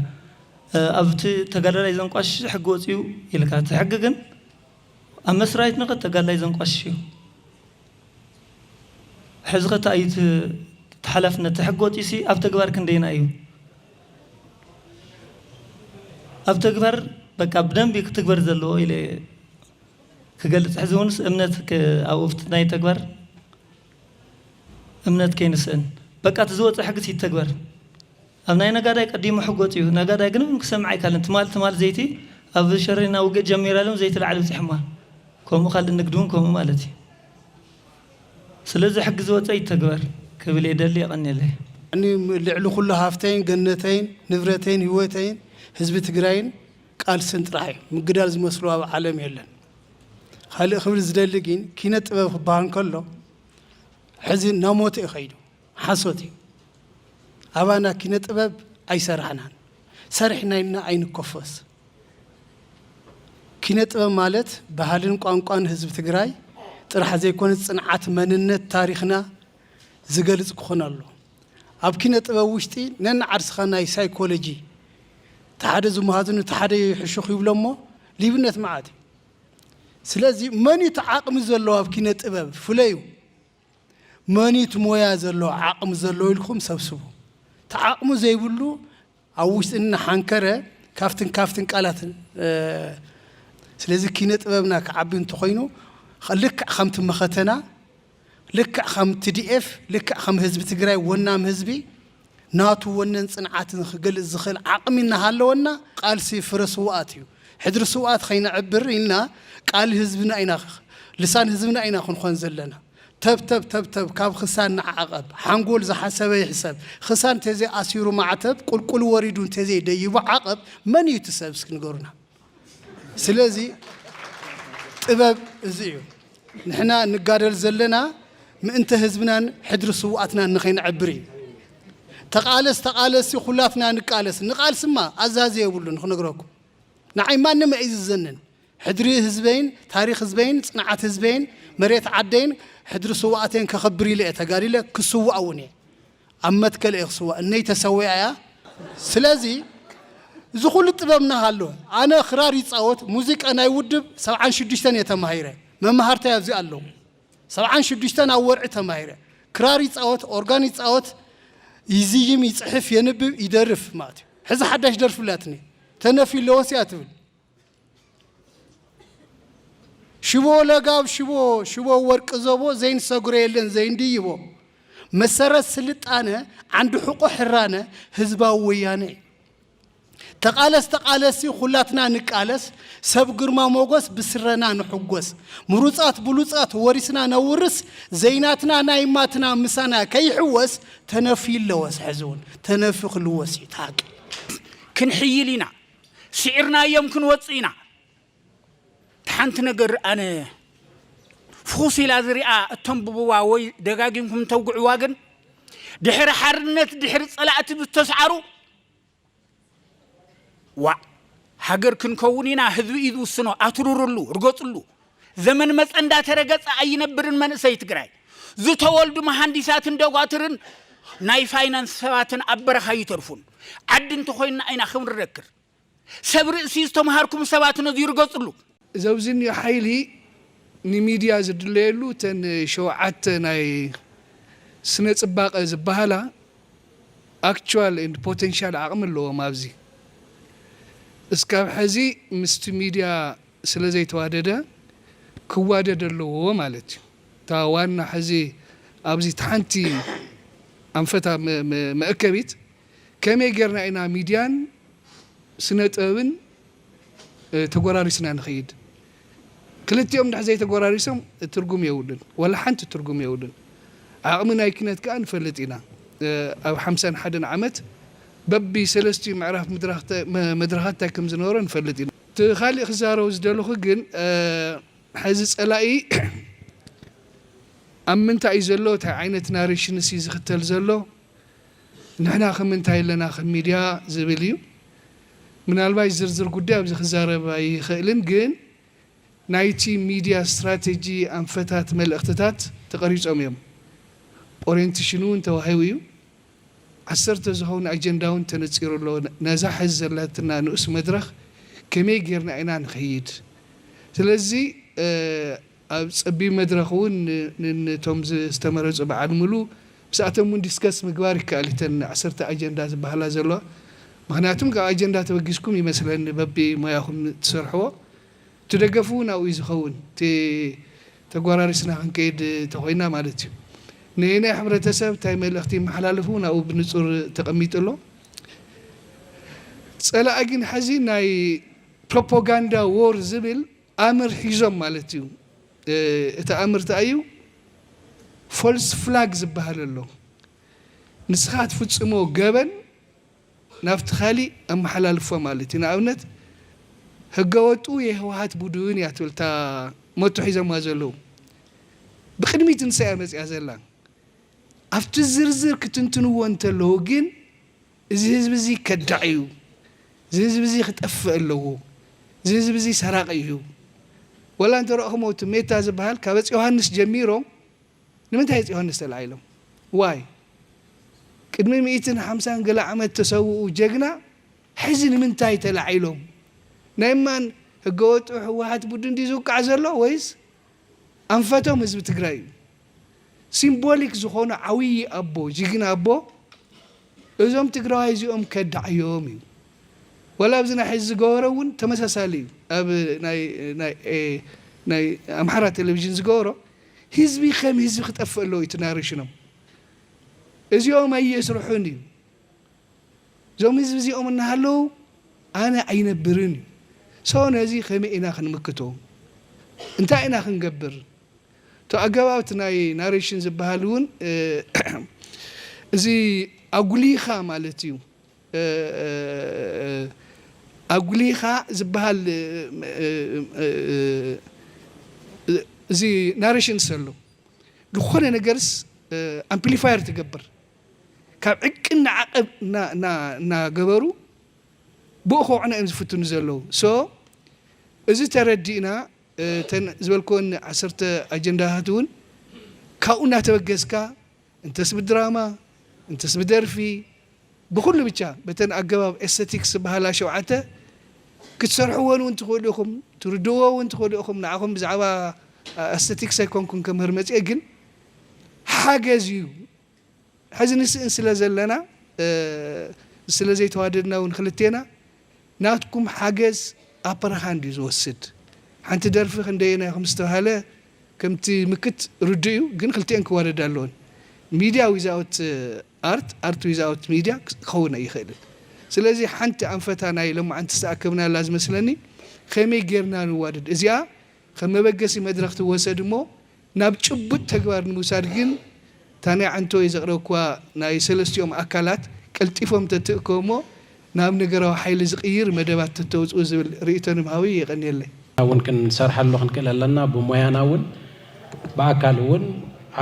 ኣብቲ ተጋዳላይ ዘንቋሽሽ ሕጊ ወጺኡ ኢልካ እቲ ሕጊ ግን ኣብ መስራይት ንኸ ተጋዳላይ ዘንቋሽሽ እዩ ሕዚ ከ እንታይ እዩ እቲ ሓላፍነት እቲ ሕጊ ወጺኡሲ ኣብ ተግባር ክንደይና እዩ ኣብ ተግባር በቃ ብደንቢ ክትግበር ዘለዎ ኢለ ክገልጽ ሕዚ ውንስ እምነት ኣብኡፍት ናይ ተግባር እምነት ከይንስእን በቃ እቲ ዝወፀ ሕግስ ይተግበር ኣብ ናይ ነጋዳይ ቀዲሙ ሕጎፅ እዩ ነጋዳይ ግን ውን ክሰምዕ ኣይካልን ትማል ትማል ዘይቲ ኣብ ሸሬና ውግእ ጀሚራ ኢሎም ዘይቲ ላዕሊ ኣብፂሖማ ከምኡ ካልእ ንግዲ ውን ከምኡ ማለት እዩ ስለዚ ሕጊ ዝወፀ ይተግበር ክብል የደሊ የቀንየለይ። ን ልዕሊ ኩሉ ሃፍተይን ገነተይን ንብረተይን ሂወተይን ህዝቢ ትግራይን ቃልስን ጥራሕ እዩ ምግዳል ዝመስሎ ኣብ ዓለም የለን። ካልእ ክብል ዝደሊ ግን ኪነ ጥበብ ክበሃል ከሎ ሕዚ ናሞተ እዩ ከይዱ ሓሶት እዩ ኣባና ኪነ ጥበብ ኣይሰራሕናን ሰሪሕና ኢልና ኣይንኮፈስ ኪነ ጥበብ ማለት ባህልን ቋንቋን ህዝቢ ትግራይ ጥራሕ ዘይኮነ ፅንዓት መንነት ታሪክና ዝገልፅ ክኾን ኣሎ ኣብ ኪነ ጥበብ ውሽጢ ነንዓርስኻ ናይ ሳይኮሎጂ እቲ ሓደ ዝመሃዙ ንቲ ሓደ ይሕሹኽ ይብሎ እሞ ሊብነት መዓት እዩ ስለዚ መንዩ እቲ ዓቕሚ ዘለዎ ኣብ ኪነ ጥበብ ፍለዩ መንዩ እቲ ሞያ ዘለዎ ዓቕሚ ዘለዎ ኢልኩም ሰብስቡ እቲ ዓቕሙ ዘይብሉ ኣብ ውሽጢ እናሓንከረ ካብትን ካብትን ቃላት ስለዚ ኪነ ጥበብና ክዓቢ እንተኾይኑ ልክዕ ከምቲ መኸተና ልክዕ ከም TDF ልክዕ ከም ህዝቢ ትግራይ ወናም ህዝቢ ናቱ ወነን ፅንዓትን ክገልፅ ዝኽእል ዓቕሚ እናሃለወና ቃልሲ ፍረ ስውኣት እዩ ሕድሪ ስውኣት ከይነዕብር ኢልና ቃል ህዝብና ኢና ልሳን ህዝብና ኢና ክንኾን ዘለና። ተብተብ ተብተብ ካብ ኽሳን ንዓቐብ ሓንጎል ዝሓሰበ ይሕሰብ ኽሳን ተዘይ ኣሲሩ ማዕተብ ቁልቁል ወሪዱ እንተዘይ ደይቡ ዓቐብ መን እዩ እቲ ሰብ እስኪ ንገሩና ስለዚ ጥበብ እዚ እዩ ንሕና ንጋደል ዘለና ምእንተ ህዝብናን ሕድሪ ስውኣትናን ንኸይነዕብር እዩ ተቓለስ ተቓለሲ ኩላትና ንቃለስ ንቓልስማ ኣዛዚ የብሉን ንኽነግረኩም ንዓይ ማንም ኣይእዝዘንን ሕድሪ ህዝበይን ታሪኽ ህዝበይን ጽንዓት ህዝበይን መሬት ዓደይን ሕድሪ ስውኣተይን ከኽብር ኢለ እየ ተጋዲለ ክስዋእ እውን እየ ኣብ መትከል እየ ክስዋእ እነይ ተሰዊኣ እያ ስለዚ እዚ ኩሉ ጥበብ እናሃሎ ኣነ ክራር ይጻወት ሙዚቃ ናይ ውድብ ሰብዓን ሽዱሽተን እየ ተማሂረ መማህርታይ ኣብዚ ኣለዉ ሰብዓን ሽዱሽተን ኣብ ወርዒ ተማሂረ ክራር ይጻወት ኦርጋን ይጻወት ይዝይም ይጽሕፍ የንብብ ይደርፍ ማለት እዩ ሕዚ ሓዳሽ ደርፊ ላትኒ ተነፊ ኣለወስ እያ ትብል ሽቦ ለጋብ ሽቦ ሽቦ ወርቂ ዘቦ ዘይንሰግሮ የለን ዘይንድይቦ መሰረት ስልጣነ ዓንዲ ሕቆ ሕራነ ህዝባዊ ወያነ እዩ ተቃለስ ተቃለሲ ኩላትና ንቃለስ ሰብ ግርማ ሞጎስ ብስረና ንሕጎስ ምሩፃት ብሉፃት ወሪስና ነውርስ ዘይናትና ናይ ማትና ምሳና ከይሕወስ ተነፍዩ ኣለወስ ሕዚ እውን ተነፍዩ ክልወስ እዩ ተሃቂ ክንሕይል ኢና ስዒርናዮም ክንወጽእ ኢና። እቲ ሓንቲ ነገር ኣነ ፍኹስ ኢላ ዝሪኣ እተንብብዋ ወይ ደጋጊምኩም እተውግዕዋ ግን ድሕሪ ሓርነት ድሕሪ ጸላእቲ ብዝተስዓሩ ዋዕ ሃገር ክንከውን ኢና ህዝቢ እዩ ዝውስኖ ኣትርርሉ ርገጽሉ ዘመን መጸ እንዳተረገጸ ኣይነብርን መንእሰይ ትግራይ። ዝተወልዱ መሃንዲሳትን ደጓትርን ናይ ፋይናንስ ሰባትን ኣብ በረኻ ኣይተርፉን። ዓዲ እንተኾይንና ኢና ክንረክር። ሰብ ርእሲ ዝተምሃርኩም ሰባት ነዙይ ርገጽሉ። እዚ ኣብዚ እኒኦ ሓይሊ ንሚድያ ዝድለየሉ እተን ሸውዓተ ናይ ስነ ፅባቐ ዝባሃላ ኣክችዋል ኤንድ ፖቴንሻል ዓቕሚ ኣለዎም ኣብዚ እስካብ ሐዚ ምስቲ ሚድያ ስለ ዘይተዋደደ ክዋደድ ኣለዎ ማለት እዩ። እታ ዋና ሕዚ ኣብዚ እታ ሓንቲ ኣንፈታ መእከቢት ከመይ ጌርና ኢና ሚድያን ስነ ጥበብን ተጎራሪስና ንኸይድ? ክልቲኦም እንድሕር ዘይተጎራሪሶም ትርጉም የብሉን። ዋላ ሓንቲ ትርጉም የብሉን። ዓቕሚ ናይ ኪነት ከኣ ንፈልጥ ኢና። ኣብ ሓምሳን ሓደን ዓመት በቢ ሰለስቲኡ ምዕራፍ መድረኻት እንታይ ከም ዝነበሮ ንፈልጥ ኢና። እቲ ካሊእ ክዛረቦ ዝደለኹ ግን ሐዚ ፀላኢ ኣብ ምንታይ እዩ ዘሎ ታይ ዓይነት ናሬሽንስ እዩ ዝኽተል ዘሎ ንሕና ከ ምንታይ ኣለና ከም ሚድያ ዝብል እዩ ምናልባሽ ዝርዝር ጉዳይ ኣብዚ ክዛረብ ኣይኽእልን ግን ናይቲ ሚድያ ስትራቴጂ ኣንፈታት መልእኽትታት ተቀሪፆም እዮም ኦሬንትሽን እውን ተዋሂቡ እዩ ዓሰርተ ዝኸውን ኣጀንዳውን ተነጺሩ ኣሎ። ነዛ ሕዚ ዘላትና ንኡስ መድረኽ ከመይ ጌርና ኢና ንኸይድ? ስለዚ ኣብ ጸቢብ መድረኽ እውን ንነቶም ዝተመረጹ በዓል ምሉ ምስኣቶም እውን ዲስከስ ምግባር ይከኣል እዩ እተን ዓሰርተ ኣጀንዳ ዝበሃላ ዘለዋ ምኽንያቱም ካብ ኣጀንዳ ተበጊስኩም ይመስለኒ በቢ ሞያኹም ትሰርሕዎ እቲ ደገፍ እውን ኣብኡ እዩ ዝኸውን እቲ ተጓራሪስና ክንከይድ ተኾይና ማለት እዩ። ነየናይ ሕብረተሰብ እንታይ መልእኽቲ ይመሓላለፍ እውን ኣብኡ ብንፁር ተቐሚጡ ኣሎ። ፀላኢ ግን ሐዚ ናይ ፕሮፖጋንዳ ዎር ዝብል ኣምር ሒዞም ማለት እዩ። እቲ ኣምር እንታይ እዩ? ፎልስ ፍላግ ዝበሃል ኣሎ። ንስኻ ትፍፅሞ ገበን ናብቲ ካሊእ ኣመሓላልፋ ማለት እዩ ንኣብነት ህገወጡ የህወሓት ቡድን እያ ትብል እታ ሞቶ ሒዞማ ዘለዉ ብቅድሚት ንሳ እያ መፂኣ ዘላ ኣብቲ ዝርዝር ክትንትንዎ እንተለዉ ግን እዚ ህዝቢ እዚ ከዳዕ እዩ እዚ ህዝቢ እዚ ክጠፍእ ኣለዎ እዚ ህዝቢ እዚ ሰራቂ እዩ ወላ እንተረእኹሞ እቲ ሜታ ዝበሃል ካበፅ ዮሃንስ ጀሚሮም ንምንታይ እጽ ዮሃንስ ተላዒሎም ዋይ ቅድሚ ሚኢትን ሓምሳን ገለ ዓመት ተሰውኡ ጀግና ሕዚ ንምንታይ ተላዒሎም ናይ እማን ህገወጡ ህወሓት ቡድን ድዩ ዝውቃዕ ዘሎ ወይስ ኣንፈቶም ህዝቢ ትግራይ እዩ ሲምቦሊክ ዝኾኑ ዓውዪ ኣቦ ጅግና ኣቦ እዞም ትግራዋይ እዚኦም ከዳዕዮም እዩ ወላ ኣብዚ ናይ ሕዚ ዝገበሮ እውን ተመሳሳሊ እዩ ኣብ ናይ ናይ ናይ ኣምሓራ ቴሌቭዥን ዝገበሮ ህዝቢ ከም ህዝቢ ክጠፍእ ኣለዎ እዩ እቲ ናሬሽኖም። እዚኦም ኣየስርሑን እዩ። እዞም ህዝቢ እዚኦም እናሃለዉ ኣነ ኣይነብርን እዩ። ሶ ነዚ ከመይ ኢና ክንምክቶ? እንታይ ኢና ክንገብር? እቲ ኣገባብ እቲ ናይ ናሬሽን ዝበሃል እውን እዚ ኣጉሊኻ ማለት እዩ። ኣጉሊኻ ዝብሃል እዚ ናረሽን ሰሎ ዝኾነ ነገርስ ኣምፕሊፋየር ትገብር ካብ ዕቅን ንዓቐብ እናገበሩ ብኡ ከውዕና እዮም ዝፍትኑ ዘለዉ ሶ እዚ ተረዲእና እተን ዝበልክወን ዓሰርተ ኣጀንዳታት እውን ካብኡ እናተበገስካ እንተስ ብድራማ እንተስ ብደርፊ ብኹሉ ብቻ በተን ኣገባብ ኤሰቲክስ ዝበሃላ ሸውዓተ ክትሰርሕወን እውን ትኽእሉ ኢኹም ትርድእዎ እውን ትኽእሉ ኢኹም ንዓኹም ብዛዕባ ኣሰቲክስ ኣይኮንኩን ከምህር መፅኤ ግን ሓገዝ እዩ ሕዚ ንስእን ስለ ዘለና ስለ ዘይተዋደድና እውን ክልቴና ናትኩም ሓገዝ ኣፐር ሃንድ እዩ ዝወስድ። ሓንቲ ደርፊ ክንደየናይ ከም ዝተብሃለ ከምቲ ምክት ርዱእ እዩ ግን ክልቲኤን ክዋደዳ ኣለወን። ሚድያ ዊዛውት ኣርት፣ ኣርት ዊዛውት ሚድያ ክኸውን ኣይኽእልን። ስለዚ ሓንቲ ኣንፈታ ናይ ሎማዓንቲ ዝተኣከብናላ ዝመስለኒ ከመይ ጌርና ንዋደድ እዚኣ ከም መበገሲ መድረኽ ትወሰድ እሞ ናብ ጭቡጥ ተግባር ንምውሳድ ግን እታ ናይ ዓንተወይ ዘቕረብኩዋ ናይ ሰለስቲኦም ኣካላት ቀልጢፎም ተትእከቡ'ሞ ናብ ነገራዊ ሓይሊ ዝቕይር መደባት ተተውጽኡ ዝብል ርእይቶ ንምሃብ'ዩ። የቐንየለይ። እውን ክንሰርሐሉ ክንክእል ኣለና። ብሞያና እውን ብኣካል እውን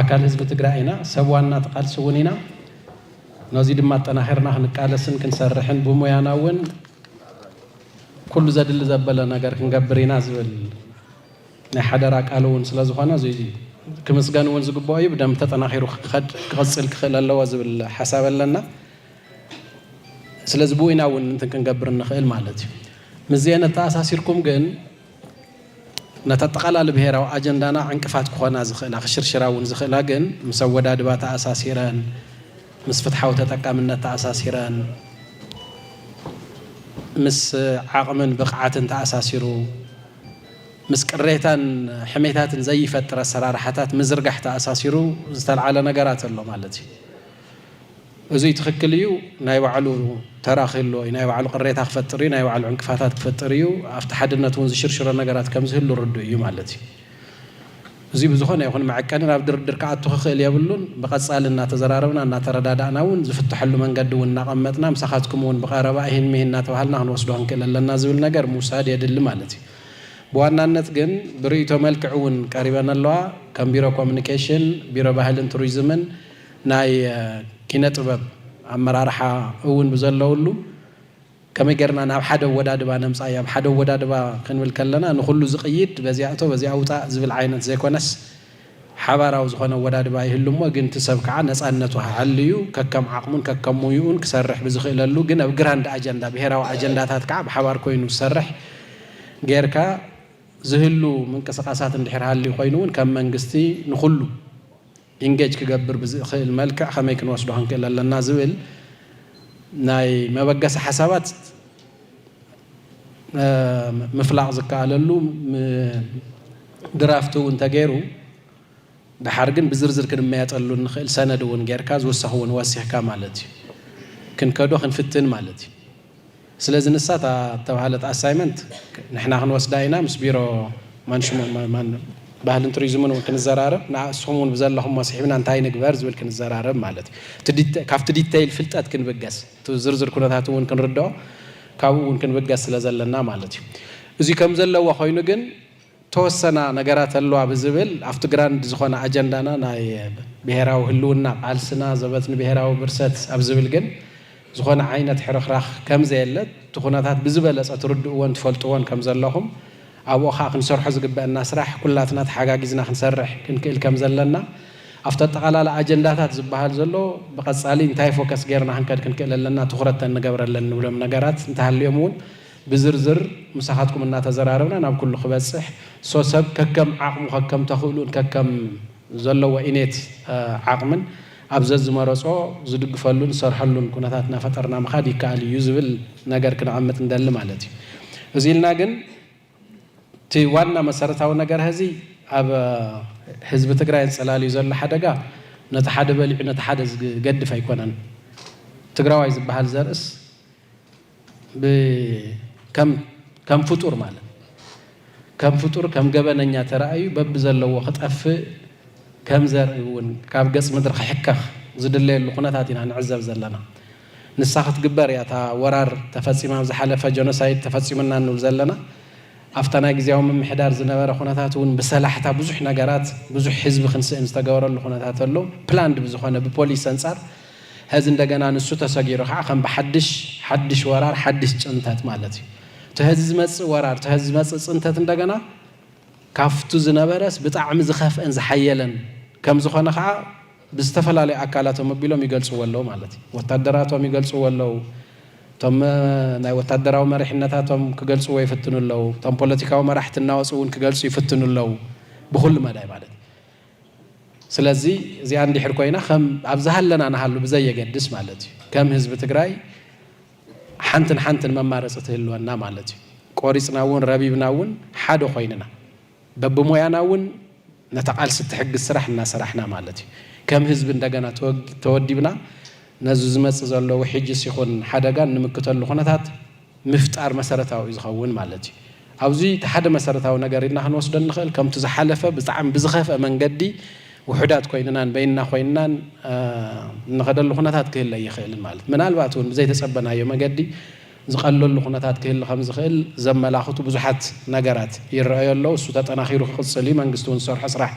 ኣካል ህዝቢ ትግራይ ኢና። ሰብ ዋና እቲ ቃልሲ እውን ኢና። ነዙይ ድማ ኣጠናኺርና ክንቃለስን ክንሰርሕን ብሞያና እውን ኩሉ ዘድሊ ዘበለ ነገር ክንገብር ኢና ዝብል ናይ ሓደራ ቃል እውን ስለ ዝኾነ እዙይ ክምስገን እውን ዝግበኦ እዩ። ብደንብ ተጠናኺሩ ክኸድ ክቕፅል ክኽእል ኣለዎ ዝብል ሓሳብ ኣለና። ስለዚ ብኡይና እውን እንትን ክንገብር ንኽእል ማለት እዩ። ምስዚኤን ኣተኣሳሲርኩም ግን ነቲ ኣጠቓላሊ ብሄራዊ ኣጀንዳና ዕንቅፋት ክኾና ዝኽእላ ክሽርሽራ እውን ዝኽእላ ግን ምስ ኣወዳድባ ተኣሳሲረን ምስ ፍትሓዊ ተጠቃምነት ተኣሳሲረን ምስ ዓቕምን ብቕዓትን ተኣሳሲሩ ምስ ቅሬታን ሕሜታትን ዘይፈጥር ኣሰራርሓታት ምዝርጋሕ ተኣሳሲሩ ዝተልዓለ ነገራት ኣሎ ማለት እዩ። እዙይ ትኽክል እዩ፣ ናይ ባዕሉ ተራ ክህልዎ እዩ፣ ናይ ባዕሉ ቅሬታ ክፈጥር እዩ፣ ናይ ባዕሉ ዕንቅፋታት ክፈጥር እዩ፣ ኣብቲ ሓድነት እውን ዝሽርሽሮ ነገራት ከምዝህሉ ርዱእ እዩ ማለት እዩ። እዚ ብዝኾነ ይኹን መዐቀኒ ናብ ድርድር ክኣቱ ክኽእል የብሉን። ብቐጻሊ እናተዘራረብና እናተረዳዳእና እውን ዝፍተሐሉ መንገዲ እውን እናቐመጥና ምሳኻትኩም እውን ብቐረባ እሂን ምሂን እናተባሃልና ክንወስዶ ክንክእል ኣለና ዝብል ነገር ምውሳድ የድሊ ማለት እዩ። ብዋናነት ግን ብርእይቶ መልክዕ እውን ቀሪበን ኣለዋ። ከም ቢሮ ኮሚኒኬሽን፣ ቢሮ ባህልን ቱሪዝምን ናይ ኪነ ጥበብ ኣመራርሓ እውን ብዘለውሉ ከመይ ጌርና ናብ ሓደ ኣወዳድባ ነምጻዮ፣ ኣብ ሓደ ኣወዳድባ ክንብል ከለና ንኹሉ ዝቕይድ በዚኣ እቶ በዚኣ ውጻእ ዝብል ዓይነት ዘይኮነስ ሓባራዊ ዝኾነ ኣወዳድባ ይህሉ እሞ ግን እቲ ሰብ ከኣ ነጻነቱ ኣሐልዩ ከከም ዓቕሙን ከከም ሞይኡን ክሰርሕ ብዝኽእለሉ ግን ኣብ ግራንድ ኣጀንዳ ብሄራዊ ኣጀንዳታት ከኣ ብሓባር ኮይኑ ዝሰርሕ ጌርካ ዝህሉ ምንቅስቓሳት እንድሕር ሃልዩ ኮይኑ እውን ከም መንግስቲ ንኹሉ ኢንጌጅ ክገብር ብዝእኽእል መልክዕ ከመይ ክንወስዶ ክንክእል ኣለና ዝብል ናይ መበገሲ ሓሳባት ምፍላቕ ዝከኣለሉ ድራፍት እውን ተገይሩ ደሓር ግን ብዝርዝር ክንመያጠሉ እንኽእል ሰነድ እውን ጌርካ ዝውሰኽ እውን ወሲኽካ ማለት እዩ ክንከዶ ክንፍትን ማለት እዩ። ስለዚ ንሳ እታ ዝተባህለት ኣሳይመንት ንሕና ክንወስዳ ኢና፣ ምስ ቢሮ ማንሽመ ባህልን ቱሪዝምን እውን ክንዘራረብ፣ ንኣ እስኹም እውን ብዘለኹሞ ስሒብና እንታይ ንግበር ዝብል ክንዘራረብ ማለት እዩ። እቲ ዲተ ካብቲ ዲተይል ፍልጠት ክንብገስ፣ እቲ ዝርዝር ኩነታት እውን ክንርድኦ ካብኡ እውን ክንብገስ ስለ ዘለና ማለት እዩ። እዚ ከም ዘለዎ ኮይኑ ግን፣ እተወሰና ነገራት ኣለዋ ብዝብል ኣብቲ ግራንድ ዝኾነ ኣጀንዳና ናይ ብሄራዊ ህልውና ቃልስና ዘበት ንብሄራዊ ብርሰት ኣብ ዝብል ግን ዝኾነ ዓይነት ሕርኽራኽ ከምዘየለ እቲ ኩነታት ብዝበለፀ ትርድእዎን ትፈልጥዎን ከምዘለኹም ኣብኡ ከዓ ክንሰርሖ ዝግበእና ስራሕ ኩላትና ተሓጋጊዝና ክንሰርሕ ክንክእል ከምዘለና ኣብቲ ኣጠቓላላ ኣጀንዳታት ዝበሃል ዘሎ ብቐፃሊ እንታይ ፎከስ ገይርና ክንከድ ክንክእል ኣለና ትኹረት ተንገብረለን ንብሎም ነገራት እንተሃልዮም እውን ብዝርዝር ምሳኻትኩም እናተዘራረብና ናብ ኩሉ ክበፅሕ ሶሰብ ከከም ዓቕሙ ከከም ተኽእሉኡን ከከም ዘለዎ ኢኔት ዓቕምን ኣብ ዘዝመረፆ ዝድግፈሉን ዝሰርሐሉን ኩነታት እናፈጠርና ምኻድ ይከኣል እዩ ዝብል ነገር ክነቐምጥ ንደሊ ማለት እዩ። እዙይ ኢልና ግን እቲ ዋና መሰረታዊ ነገር ሀዚ ኣብ ህዝቢ ትግራይ ኣንፀላልዩ ዘሎ ሓደጋ ነቲ ሓደ በሊዑ ነቲ ሓደ ዝገድፍ ኣይኮነን። ትግራዋይ ዝበሃል ዘርእስ፣ ከም ፍጡር ማለት ከም ፍጡር ከም ገበነኛ ተራእዩ በብዘለዎ ክጠፍእ ከም ዘርኢ እውን ካብ ገጽ ምድሪ ክሕከኽ ዝድለየሉ ኩነታት ኢና ንዕዘብ ዘለና። ንሳ ክትግበር እያ እታ ወራር ተፈጺማ ኣብ ዝሓለፈ ጀኖሳይድ ተፈጺሙና ንብል ዘለና። ኣብታ ናይ ግዝያዊ ምምሕዳር ዝነበረ ኩነታት እውን ብሰላሕታ ብዙሕ ነገራት ብዙሕ ህዝቢ ክንስእን ዝተገበረሉ ኩነታት ኣሎ። ፕላንድ ብዝኾነ ብፖሊስ ኣንጻር ሐዚ እንደገና ንሱ ተሰጊሩ ከዓ ከም ብሓድሽ ሓድሽ ወራር ሓድሽ ፅንተት ማለት እዩ። እቲ ሐዚ ዝመፅእ ወራር እቲ ሐዚ ዝመፅእ ፅንተት እንደገና ካፍቱ ዝነበረስ ብጣዕሚ ዝኸፍአን ዝሓየለን ከምዝኾነ ከዓ ብዝተፈላለዩ ኣካላቶም ኣቢሎም ይገልፅዎ ኣለው ማለት እዩ። ወታደራቶም ይገልፅዎ ኣለው፣ እቶም ናይ ወታደራዊ መሪሕነታቶም ክገልፅዎ ይፍትኑ ኣለው፣ እቶም ፖለቲካዊ መራሕቲ እናወፁ እውን ክገልፁ ይፍትኑ ኣለው ብኹሉ መዳይ ማለት እዩ። ስለዚ እዚኣ እንድሕር ኮይና ከም ኣብ ዝሃለና ንሃሉ ብዘየገድስ ማለት እዩ ከም ህዝቢ ትግራይ ሓንትን ሓንትን መማረፂ ትህልወና ማለት እዩ። ቆሪፅና እውን ረቢብና እውን ሓደ ኮይንና በብሞያና እውን ነታ ቃልሲ እትሕግዝ ስራሕ እናሰራሕና ማለት እዩ ከም ህዝቢ እንደገና ተወዲብና ነዚ ዝመፅእ ዘሎ ውሕጅስ ይኹን ሓደጋ እንምክተሉ ኩነታት ምፍጣር መሰረታዊ እዩ ዝኸውን ማለት እዩ። ኣብዚ እቲ ሓደ መሰረታዊ ነገር ኢልና ክንወስዶ እንኽእል ከምቲ ዝሓለፈ ብጣዕሚ ብዝኸፍኣ መንገዲ ውሑዳት ኮይንናን በይንና ኮይንናን እንኸደሉ ኩነታት ክህሊ ኣይኽእልን ማለት ምናልባት እውን ብዘይተፀበናዮ መገዲ ዝቐለሉ ኩነታት ክህሊ ከምዝኽእል ዘመላኽቱ ብዙሓት ነገራት ይረኣዩ ኣለው። እሱ ተጠናኺሩ ክቕፅል እዩ። መንግስቲ እውን ዝሰርሖ ስራሕ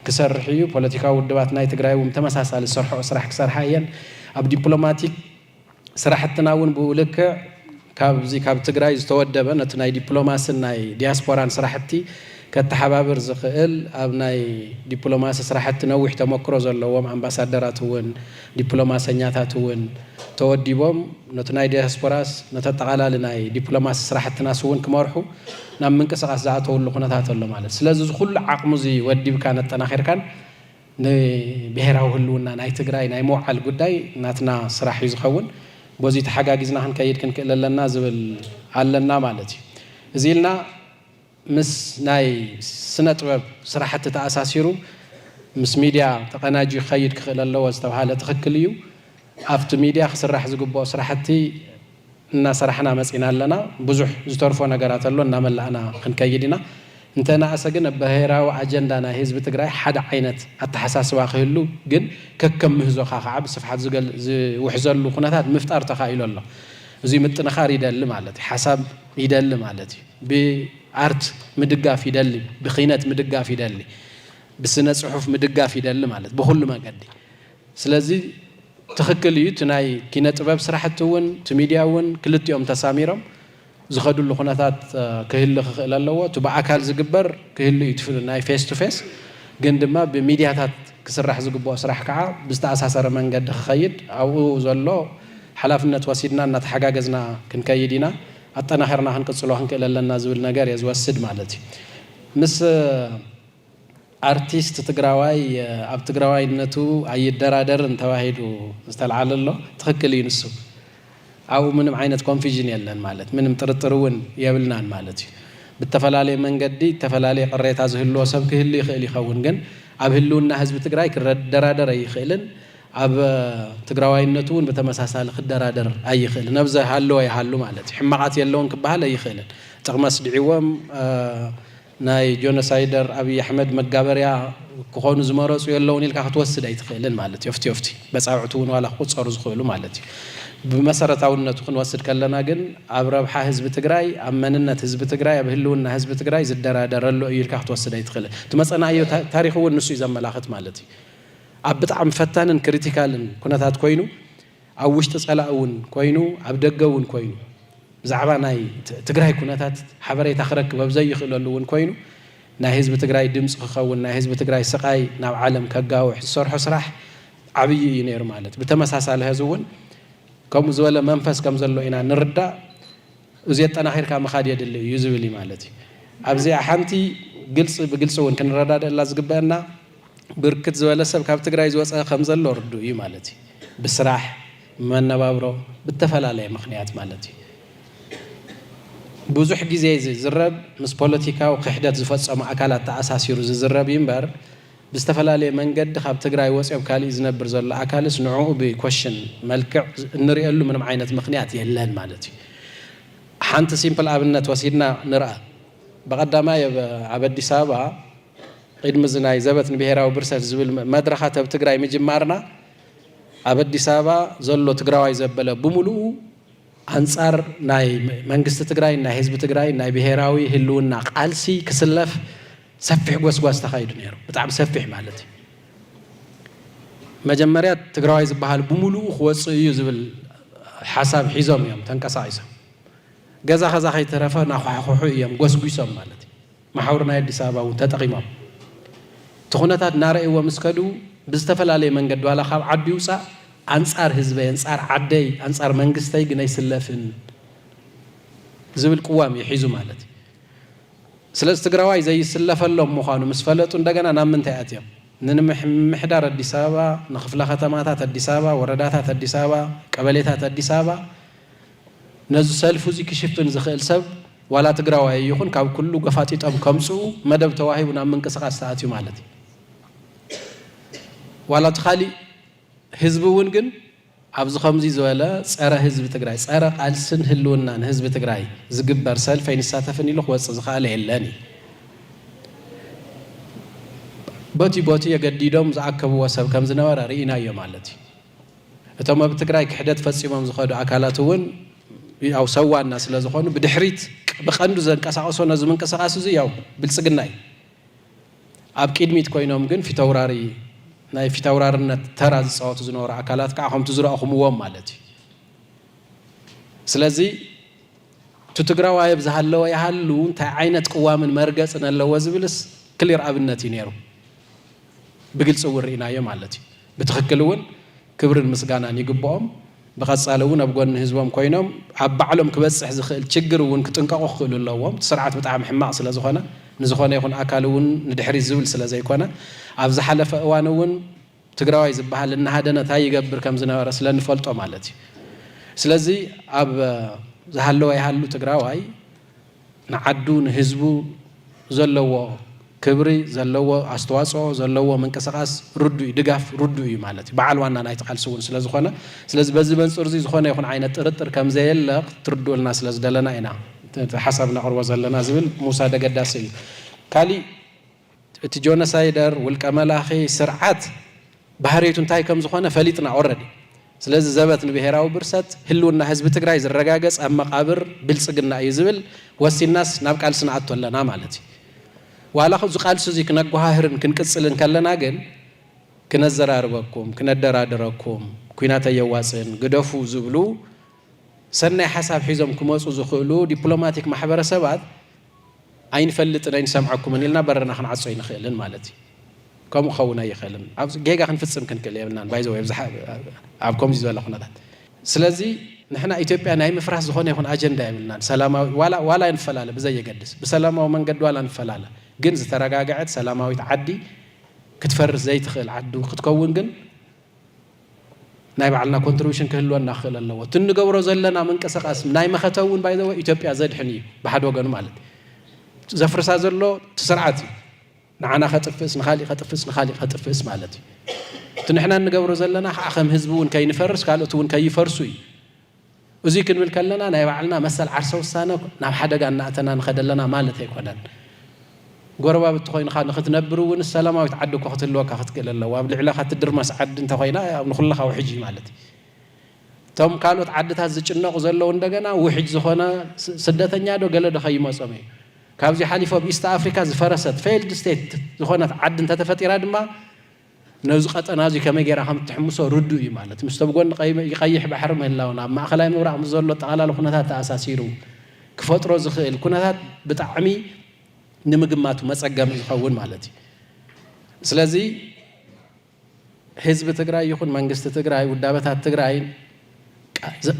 ክሰርሕ እዩ። ፖለቲካዊ ውድባት ናይ ትግራይ እውን ብተመሳሳሊ ዝሰርሕኦ ስራሕ ክሰርሓ እየን። ኣብ ዲፕሎማቲክ ስራሕትና እውን ብኡ ልክዕ ካብዚ ካብ ትግራይ ዝተወደበ ነቲ ናይ ዲፕሎማስን ናይ ዲያስፖራን ስራሕቲ ከተሓባብር ዝኽእል ኣብ ናይ ዲፕሎማሲ ስራሕቲ ነዊሕ ተመክሮ ዘለዎም ኣምባሳደራት እውን ዲፕሎማሰኛታት እውን ተወዲቦም ነቲ ናይ ዲያስፖራስ ነተጠቓላሊ ናይ ዲፕሎማሲ ስራሕትናስ እውን ክመርሑ ናብ ምንቅስቓስ ዝኣተውሉ ኩነታት ኣሎ ማለት ስለዚ እዚ ኩሉ ዓቕሙ እዚ ወዲብካን ኣጠናኺርካን ንብሄራዊ ህልውና ናይ ትግራይ ናይ ምውዓል ጉዳይ ናትና ስራሕ እዩ ዝኸውን። በዙይ ተሓጋጊዝና ክንከይድ ክንክእል ኣለና ዝብል ኣለና ማለት እዩ። እዙይ ኢልና ምስ ናይ ስነ ጥበብ ስራሕቲ ተኣሳሲሩ ምስ ሚድያ ተቐናጅዩ ክኸይድ ክኽእል ኣለዎ ዝተብሃለ ትኽክል እዩ። ኣፍቲ ሚድያ ክስራሕ ዝግበኦ ስራሕቲ እናሰራሕና መፂና ኣለና። ብዙሕ ዝተርፎ ነገራት ኣሎ እናመላእና ክንከይድ ኢና። እንተነኣሰ ግን ኣብ ብሄራዊ ኣጀንዳ ናይ ህዝቢ ትግራይ ሓደ ዓይነት ኣተሓሳስባ ክህሉ ግን ከከም ምህዞኻ ከዓ ብስፍሓት ዝውሕዘሉ ኩነታት ምፍጣር ተኻኢሉ ኣሎ። እዙይ ምጥንኻር ይደሊ ማለት እዩ። ሓሳብ ይደሊ ማለት እዩ። ብኣርት ምድጋፍ ይደሊ፣ ብኪነት ምድጋፍ ይደሊ፣ ብስነ ፅሑፍ ምድጋፍ ይደሊ ማለት ብኹሉ መገዲ። ስለዚ ትኽክል እዩ እቲ ናይ ኪነ ጥበብ ስራሕቲ እውን እቲ ሚድያ እውን ክልቲኦም ተሳሚሮም ዝኸድሉ ኩነታት ክህሊ ክኽእል ኣለዎ። እቲ ብኣካል ዝግበር ክህሉ እዩ እቲ ናይ ፌስ ቱ ፌስ ግን ድማ ብሚድያታት ክስራሕ ዝግበኦ ስራሕ ከዓ ብዝተኣሳሰረ መንገዲ ክኸይድ ኣብኡ ዘሎ ሓላፍነት ወሲድና እናተሓጋገዝና ክንከይድ ኢና ኣጠናኺርና ክንቅፅሎ ክንክእል ኣለና ዝብል ነገር እየ ዝወስድ ማለት እዩ። ምስ ኣርቲስት ትግራዋይ ኣብ ትግራዋይነቱ ኣይደራደርን ተባሂሉ ዝተልዓለ ኣሎ ትኽክል እዩ ንሱ ኣብኡ ምንም ዓይነት ኮንፊዥን የለን ማለት ምንም ጥርጥር እውን የብልናን ማለት እዩ ብተፈላለየ መንገዲ እተፈላለየ ቅሬታ ዝህልዎ ሰብ ክህሉ ይኽእል ይኸውን ግን ኣብ ህልውና ህዝቢ ትግራይ ክደራደር ኣይኽእልን ኣብ ትግራዋይነቱ እውን ብተመሳሳሊ ክደራደር ኣይኽእልን ኣብ ዝሃለወ ይሃሉ ማለት እዩ ሕማቓት የለውን ክበሃል ኣይኽእልን ጥቕሚ ኣስዲዕዎም ናይ ጆኖሳይደር ኣብይ ኣሕመድ መጋበርያ ክኾኑ ዝመረፁ የለውን ኢልካ ክትወስድ ኣይትኽእልን ማለት እዩ። ፊፍቲ ፊፍቲ በፃብዕቲ እውን ዋላ ክቑፀሩ ዝኽእሉ ማለት እዩ። ብመሰረታውነቱ ክንወስድ ከለና ግን ኣብ ረብሓ ህዝቢ ትግራይ፣ ኣብ መንነት ህዝቢ ትግራይ፣ ኣብ ህልውና ህዝቢ ትግራይ ዝደራደር ኣሎ እዩ ኢልካ ክትወስድ ኣይትኽእልን። እቲ መፀናእዮ ታሪኽ እውን ንሱ እዩ ዘመላኽት ማለት እዩ። ኣብ ብጣዕሚ ፈታንን ክሪቲካልን ኩነታት ኮይኑ፣ ኣብ ውሽጢ ፀላኢ እውን ኮይኑ ኣብ ደገ እውን ኮይኑ ብዛዕባ ናይ ትግራይ ኩነታት ሓበሬታ ክረክብ ኣብ ዘይኽእለሉ እውን ኮይኑ ናይ ህዝቢ ትግራይ ድምፂ ክኸውን ናይ ህዝቢ ትግራይ ስቓይ ናብ ዓለም ከጋውሕ ዝሰርሖ ስራሕ ዓብዪ እዩ ነይሩ ማለት ብተመሳሳሊ ሀዚ እውን ከምኡ ዝበለ መንፈስ ከም ዘሎ ኢና ንርዳእ እዚ የጠናኺርካ ምኻድ የድሊ እዩ ዝብል እዩ ማለት እዩ ኣብዚኣ ሓንቲ ግልፂ ብግልፂ እውን ክንረዳደእላ ዝግበአና ብርክት ዝበለ ሰብ ካብ ትግራይ ዝወፀ ከምዘሎ ርዱእ እዩ ማለት እዩ። ብስራሕ፣ ብመነባብሮ፣ ብተፈላለየ ምኽንያት ማለት እዩ። ብዙሕ ግዜ ዝዝረብ ምስ ፖለቲካዊ ክሕደት ዝፈፀሙ ኣካላት ተኣሳሲሩ ዝዝረብ እዩ እምበር ብዝተፈላለየ መንገዲ ካብ ትግራይ ወፂኦ ኣብ ካሊእ ዝነብር ዘሎ ኣካልስ ንዕኡ ብኮሽን መልክዕ እንሪኤሉ ምንም ዓይነት ምኽንያት የለን ማለት እዩ። ሓንቲ ሲምፕል ኣብነት ወሲድና ንርኣ። በቐዳማይ ኣብ ኣዲስ ኣበባ ቕድሚ እዚ ናይ ዘበት ንብሄራዊ ብርሰት ዝብል መድረኻት ኣብ ትግራይ ምጅማርና ኣብ ኣዲስ ኣበባ ዘሎ ትግራዋይ ዘበለ ብሙሉኡ ኣንፃር ናይ መንግስቲ ትግራይን ናይ ህዝቢ ትግራይን ናይ ብሄራዊ ህልውና ቓልሲ ክስለፍ ሰፊሕ ጎስጓስ ተኻይዱ ነይሩ። ብጣዕሚ ሰፊሕ ማለት እዩ። መጀመርያ ትግራዋይ ዝበሃል ብሙሉኡ ክወፅእ እዩ ዝብል ሓሳብ ሒዞም እዮም ተንቀሳቒሶም። ገዛ ኸዛ ከይተረፈ ናዃሕኹሑ እዮም ጎስጒሶም ማለት እዩ። መሓውር ናይ ኣዲስ ኣበባ እውን ተጠቒሞም እቲ ኩነታት እናረእይዎ ምስ ከዱ ብዝተፈላለየ መንገዲ ዋላ ካብ ዓዲ ይውፃእ ኣንፃር ህዝበይ፣ ኣንፃር ዓደይ፣ ኣንፃር መንግስተይ ግን ኣይስለፍን ዝብል ቅዋም እዩ ሒዙ ማለት እዩ። ስለዚ ትግራዋይ ዘይስለፈሎም ምዃኑ ምስ ፈለጡ እንደገና ናብ ምንታይ ኣትዮም? ንምምሕዳር ኣዲስ ኣበባ፣ ንክፍለ ከተማታት ኣዲስ ኣበባ፣ ወረዳታት ኣዲስ ኣበባ፣ ቀበሌታት ኣዲስ ኣበባ ነዚ ሰልፉ እዚ ክሽፍን ዝኽእል ሰብ ዋላ ትግራዋይ ኣይኹን ካብ ኩሉ ገፋጢጦም ከምጽኡ መደብ ተዋሂቡ ናብ ምንቅስቃስ ተኣትዩ ማለት እዩ። ዋላ እቲ ካሊእ ህዝቢ እውን ግን ኣብዚ ከምዚ ዝበለ ጸረ ህዝቢ ትግራይ ጸረ ቃልስን ህልውናን ህዝቢ ትግራይ ዝግበር ሰልፊ ኣይንሳተፍን ኢሉ ክወጽእ ዝኸኣለ የለን እዩ። ቦቲ ቦቲ የገዲዶም ዝኣከብዎ ሰብ ከምዝነበረ ርኢናዮ ማለት እዩ። እቶም ኣብ ትግራይ ክሕደት ፈፂሞም ዝኸዱ ኣካላት እውን ያው ሰዋና ስለ ዝኾኑ ብድሕሪት ብቀንዱ ዘንቀሳቀሶ ነዚ ምንቅስቃስ እዚ ያው ብልፅግና እዩ። ኣብ ቂድሚት ኮይኖም ግን ፊተውራሪ ናይ ፊተውራርነት ተራ ዝፃወቱ ዝነበሩ ኣካላት ከዓ ከምቲ ዝረእኹምዎም ማለት እዩ። ስለዚ እቲ ትግራዋይ ኣብ ዝሃለወ ይሃሉ እንታይ ዓይነት ቅዋምን መርገፅን ኣለዎ ዝብልስ ክሊር ኣብነት እዩ ነይሩ። ብግልፂ እውን ርኢናዮ ማለት እዩ። ብትኽክል እውን ክብርን ምስጋናን ይግበኦም። ብቐፃሊ እውን ኣብ ጎኒ ህዝቦም ኮይኖም ኣብ ባዕሎም ክበፅሕ ዝኽእል ችግር እውን ክጥንቀቑ ክኽእሉ ኣለዎም። እቲ ስርዓት ብጣዕሚ ሕማቕ ስለዝኾነ ንዝኾነ ይኹን ኣካል እውን ንድሕሪት ዝብል ስለዘይኮነ ኣብ ዝሓለፈ እዋን እውን ትግራዋይ ዝባሃል እናሃደነ ታይ ይገብር ከምዝነበረ ስለንፈልጦ ማለት እዩ። ስለዚ ኣብ ዝሃለወ ይሃሉ ትግራዋይ ንዓዱ ንህዝቡ ዘለዎ ክብሪ ዘለዎ ኣስተዋጽኦ ዘለዎ ምንቅስቃስ ርዱእ እዩ ድጋፍ ርዱእ እዩ ማለት እዩ በዓል ዋና ናይቲ ቃልሲ እውን ስለ ዝኾነ ስለዚ በዚ መንጽር እዚ ዝኾነ ይኹን ዓይነት ጥርጥር ከም ዘየለ ክትርድኡልና ስለ ዝደለና ኢና እቲ ሓሳብ ነቕርቦ ዘለና ዝብል ምውሳድ ኣገዳሲ እዩ ካሊእ እቲ ጆነሳይደር ውልቀ መላኺ ስርዓት ባህርይቱ እንታይ ከም ዝኾነ ፈሊጥና ኦረዲ። ስለዚ ዘበት ንብሄራዊ ብርሰት ህልውና ህዝቢ ትግራይ ዝረጋገፅ ኣብ መቓብር ብልፅግና እዩ ዝብል ወሲንናስ ናብ ቃልሲ ንኣቱ ኣለና ማለት እዩ። ዋላ እዚ ቃልሲ እዙይ ክነጓሃህርን ክንቅፅልን ከለና ግን ክነዘራርበኩም፣ ክነደራድረኩም፣ ኩናት ኣየዋፅእን ግደፉ ዝብሉ ሰናይ ሓሳብ ሒዞም ክመፁ ዝኽእሉ ዲፕሎማቲክ ማሕበረሰባት ኣይንፈልጥን ኣይንሰምዓኩምን ኢልና በርና ክንዓጾ ኣይንኽእልን ማለት እዩ። ከምኡ ክኸውን ኣይኽእልን። ኣብዚ ጌጋ ክንፍጽም ክንክእል የብልናን ባይ ዘ ወይ ኣብ ከምዚ ዝበለ ኩነታት ስለዚ ንሕና ኢትዮጵያ ናይ ምፍራስ ዝኾነ ይኹን ኣጀንዳ የብልናን። ሰላማዊ ዋላ ዋላ ንፈላለ ብዘየገድስ ብሰላማዊ መንገዲ ዋላ ንፈላለ ግን ዝተረጋገዐት ሰላማዊት ዓዲ ክትፈርስ ዘይትኽእል ዓዲ ክትከውን ግን ናይ ባዕልና ኮንትሪቡሽን ክህልወና ክኽእል ኣለዎ። እቲ እንገብሮ ዘለና ምንቅስቃስ ናይ መኸተ እውን ባይ ዘ ወይ ኢትዮጵያ ዘድሕን እዩ ብሓደ ወገኑ ማለት እዩ። ዘፍርሳ ዘሎ እቲ ስርዓት እዩ ንዓና ከጥፍእስ ንካሊእ ከጥፍእስ ንካሊእ ከጥፍእስ ማለት እዩ እቲ ንሕና እንገብሮ ዘለና ከዓ ከም ህዝቢ እውን ከይንፈርስ ካልኦት እውን ከይፈርሱ እዩ እዙይ ክንብል ከለና ናይ ባዕልና መሰል ዓርሰ ውሳነ ናብ ሓደጋ እናእተና ንኸድ ኣለና ማለት ኣይኮነን። ጎረባብቲ ኮይንኻ ንኽትነብር እውን ሰላማዊት ዓዲ እኮ ክትህልወካ ክትክእል ኣለዋ። ኣብ ልዕለኻ ትድርመስ ዓዲ እንተኾይና ያው ንኹልኻ ውሕጅ እዩ ማለት እዩ። እቶም ካልኦት ዓድታት ዝጭነቑ ዘለዉ እንደገና ውሕጅ ዝኾነ ስደተኛ ዶ ገለ ዶ ከይመጾም እዩ። ካብዚ ሓሊፉ ኣብ ኢስት ኣፍሪካ ዝፈረሰት፣ Failed State፣ ዝኾነት ዓዲ እንተተፈጢራ ድማ ነዚ ቀጠና እዚ ከመይ ጌራ ከም እትሕምሶ ርዱእ እዩ ማለት እዩ። ምስቶም ጎኒ ቀይሕ ባሕሪ ምህላውን ኣብ ማእከላይ ምብራቕ ምስ ዘሎ ኣጠቓላሊ ኩነታት ተኣሳሲሩ ክፈጥሮ ዝኽእል ኩነታት ብጣዕሚ ንምግማቱ መጸገሚ ይኸውን ማለት እዩ። ስለዚ ህዝቢ ትግራይ ይኹን መንግስቲ ትግራይ ውዳበታት ትግራይን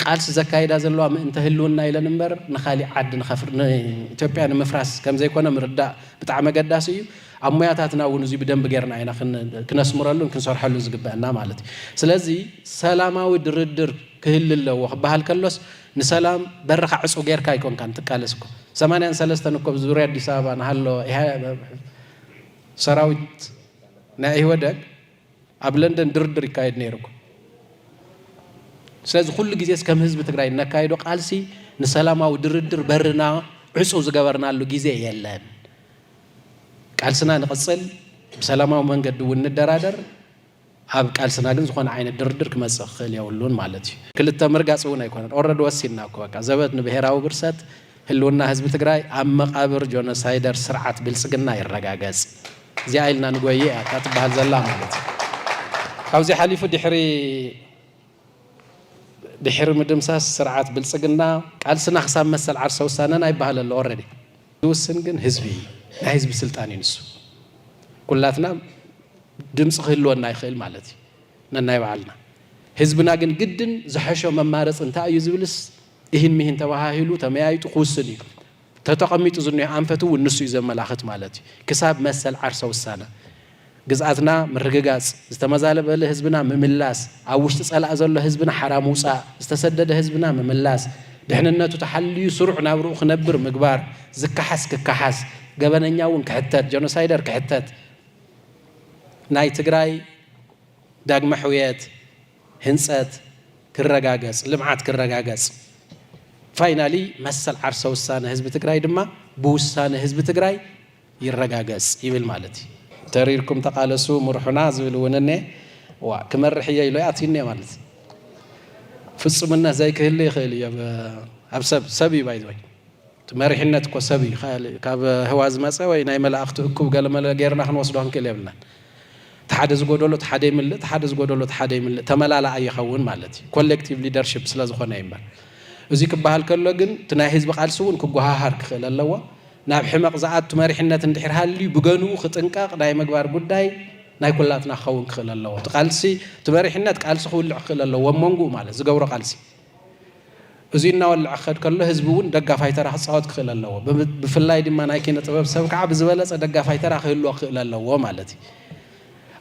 ቃልሲ ዘካይዳ ዘለዋ ምእንተ ህልውና ኢለን እምበር ንካሊእ ዓዲ ንኢትዮጵያ ንምፍራስ ከምዘይኮነ ምርዳእ ብጣዕሚ ኣገዳሲ እዩ። ኣብ ሙያታትና እውን እዙይ ብደንቢ ጌርና ኢና ክነስምረሉን ክንሰርሐሉን ዝግበእና ማለት እዩ። ስለዚ ሰላማዊ ድርድር ክህሊ ኣለዎ ክበሃል ከሎስ ንሰላም በርኻ ዕፁው ጌርካ ኣይኮንካን ትቃለስ እኮ ሰማንያን ሰለስተን እኮ ኣብ ዙርያ ኣዲስ ኣበባ ንሃለወ ሰራዊት ናይ ኢህወደግ ኣብ ለንደን ድርድር ይካየድ ነይሩ። ስለዚ ኩሉ ግዜስ ከም ህዝቢ ትግራይ እነካይዶ ቃልሲ ንሰላማዊ ድርድር በርና ዕፁው ዝገበርናሉ ግዜ የለን። ቃልስና ንቕፅል፣ ብሰላማዊ መንገዲ እውን ንደራደር፣ ኣብ ቃልስና ግን ዝኾነ ዓይነት ድርድር ክመፅእ ክኽእል የብሉን ማለት እዩ። ክልተ ምርጋፅ እውን ኣይኮነን ኦረዲ ወሲንና እኮ በቃ ዘበት ንብሄራዊ ብርሰት ህልውና ህዝቢ ትግራይ ኣብ መቓብር ጆኖሳይደር ስርዓት ብልፅግና ይረጋገፅ እዚኣ ኢልና ንጎይይ እያ እታ ትበሃል ዘላ ማለት እዩ። ካብዚ ሓሊፉ ድሕሪ ድሕሪ ምድምሳስ ስርዓት ብልፅግና ቃልስና ክሳብ መሰል ዓርሰ ውሳነና ይበሃል ኣሎ ኦረዲ ዝውስን ግን ህዝቢ እዩ። ናይ ህዝቢ ስልጣን እዩ ንሱ። ኩላትና ድምፂ ክህልወና ይኽእል ማለት እዩ ነናይ በዓልና። ህዝብና ግን ግድን ዝሐሾ መማረፂ እንታይ እዩ ዝብልስ ኢሂን ሚሂን ተባሃሂሉ ተመያይጡ ክውስን እዩ። እቲ ተቐሚጡ ዝኒሆ ኣንፈት እውን ንሱ እዩ ዘመላኽት ማለት እዩ። ክሳብ መሰል ዓርሰ ውሳነ ግዝኣትና ምርግጋፅ፣ ዝተመዛበለ ህዝብና ምምላስ፣ ኣብ ውሽጢ ፀላኢ ዘሎ ህዝብና ሓራ ምውፃእ፣ ዝተሰደደ ህዝብና ምምላስ፣ ድሕንነቱ ተሓልዩ ስሩዕ ናብርኡ ክነብር ምግባር፣ ዝከሓስ ክከሓስ፣ ገበነኛ እውን ክሕተት፣ ጀኖሳይደር ክሕተት፣ ናይ ትግራይ ዳግመ ሕውየት፣ ህንፀት ክረጋገፅ፣ ልምዓት ክረጋገፅ፣ ፋይናሊ መሰል ዓርሰ ውሳነ ህዝቢ ትግራይ ድማ ብውሳነ ህዝቢ ትግራይ ይረጋገፅ ይብል ማለት እዩ። ተሪርኩም ተቓለሱ ምርሑና ዝብል እውን እኔ ዋ ክመርሕ እየ ኢሎ ኣትዩ እኔ ማለት ፍፁምነት ዘይክህሉ ይኽእል እዮ ኣብ ሰብ ሰብ እዩ ባይዘወይ እቲ መሪሕነት እኮ ሰብ እዩ ካብ ህዋ ዝመጸ ወይ ናይ መላእኽቲ እኩብ ገለመለ ጌርና ክንወስዶ ክንክእል የብልናን እቲ ሓደ ዝጎደሎ እቲ ሓደ ይምልእ እቲ ሓደ ዝጎደሎ እቲ ሓደ ይምልእ ተመላላኣይ ይኸውን ማለት እዩ ኮሌክቲቭ ሊደርሺፕ ስለ ዝኾነ እዩ እምበር እዚ ክበሃል ከሎ ግን እቲ ናይ ህዝቢ ቃልሲ እውን ክጎሃሃር ክኽእል ኣለዎ ናብ ሕመቕ ዝኣቱ መሪሕነት እንድሕር ሃልዩ ብገንኡ ክጥንቀቕ ናይ ምግባር ጉዳይ ናይ ኩላትና ክኸውን ክኽእል ኣለዎ እቲ ቃልሲ እቲ መሪሕነት ቃልሲ ክውልዕ ክኽእል ኣለዎ ኣብ መንጉኡ ማለት ዝገብሮ ቃልሲ እዙይ እናወልዐ ክኸድ ከሎ ህዝቢ እውን ደጋፋይ ተራ ክፃወት ክኽእል ኣለዎ። ብፍላይ ድማ ናይ ኪነ ጥበብ ሰብ ከዓ ብዝበለፀ ደጋፋይ ተራ ክህልዎ ክኽእል ኣለዎ ማለት እዩ።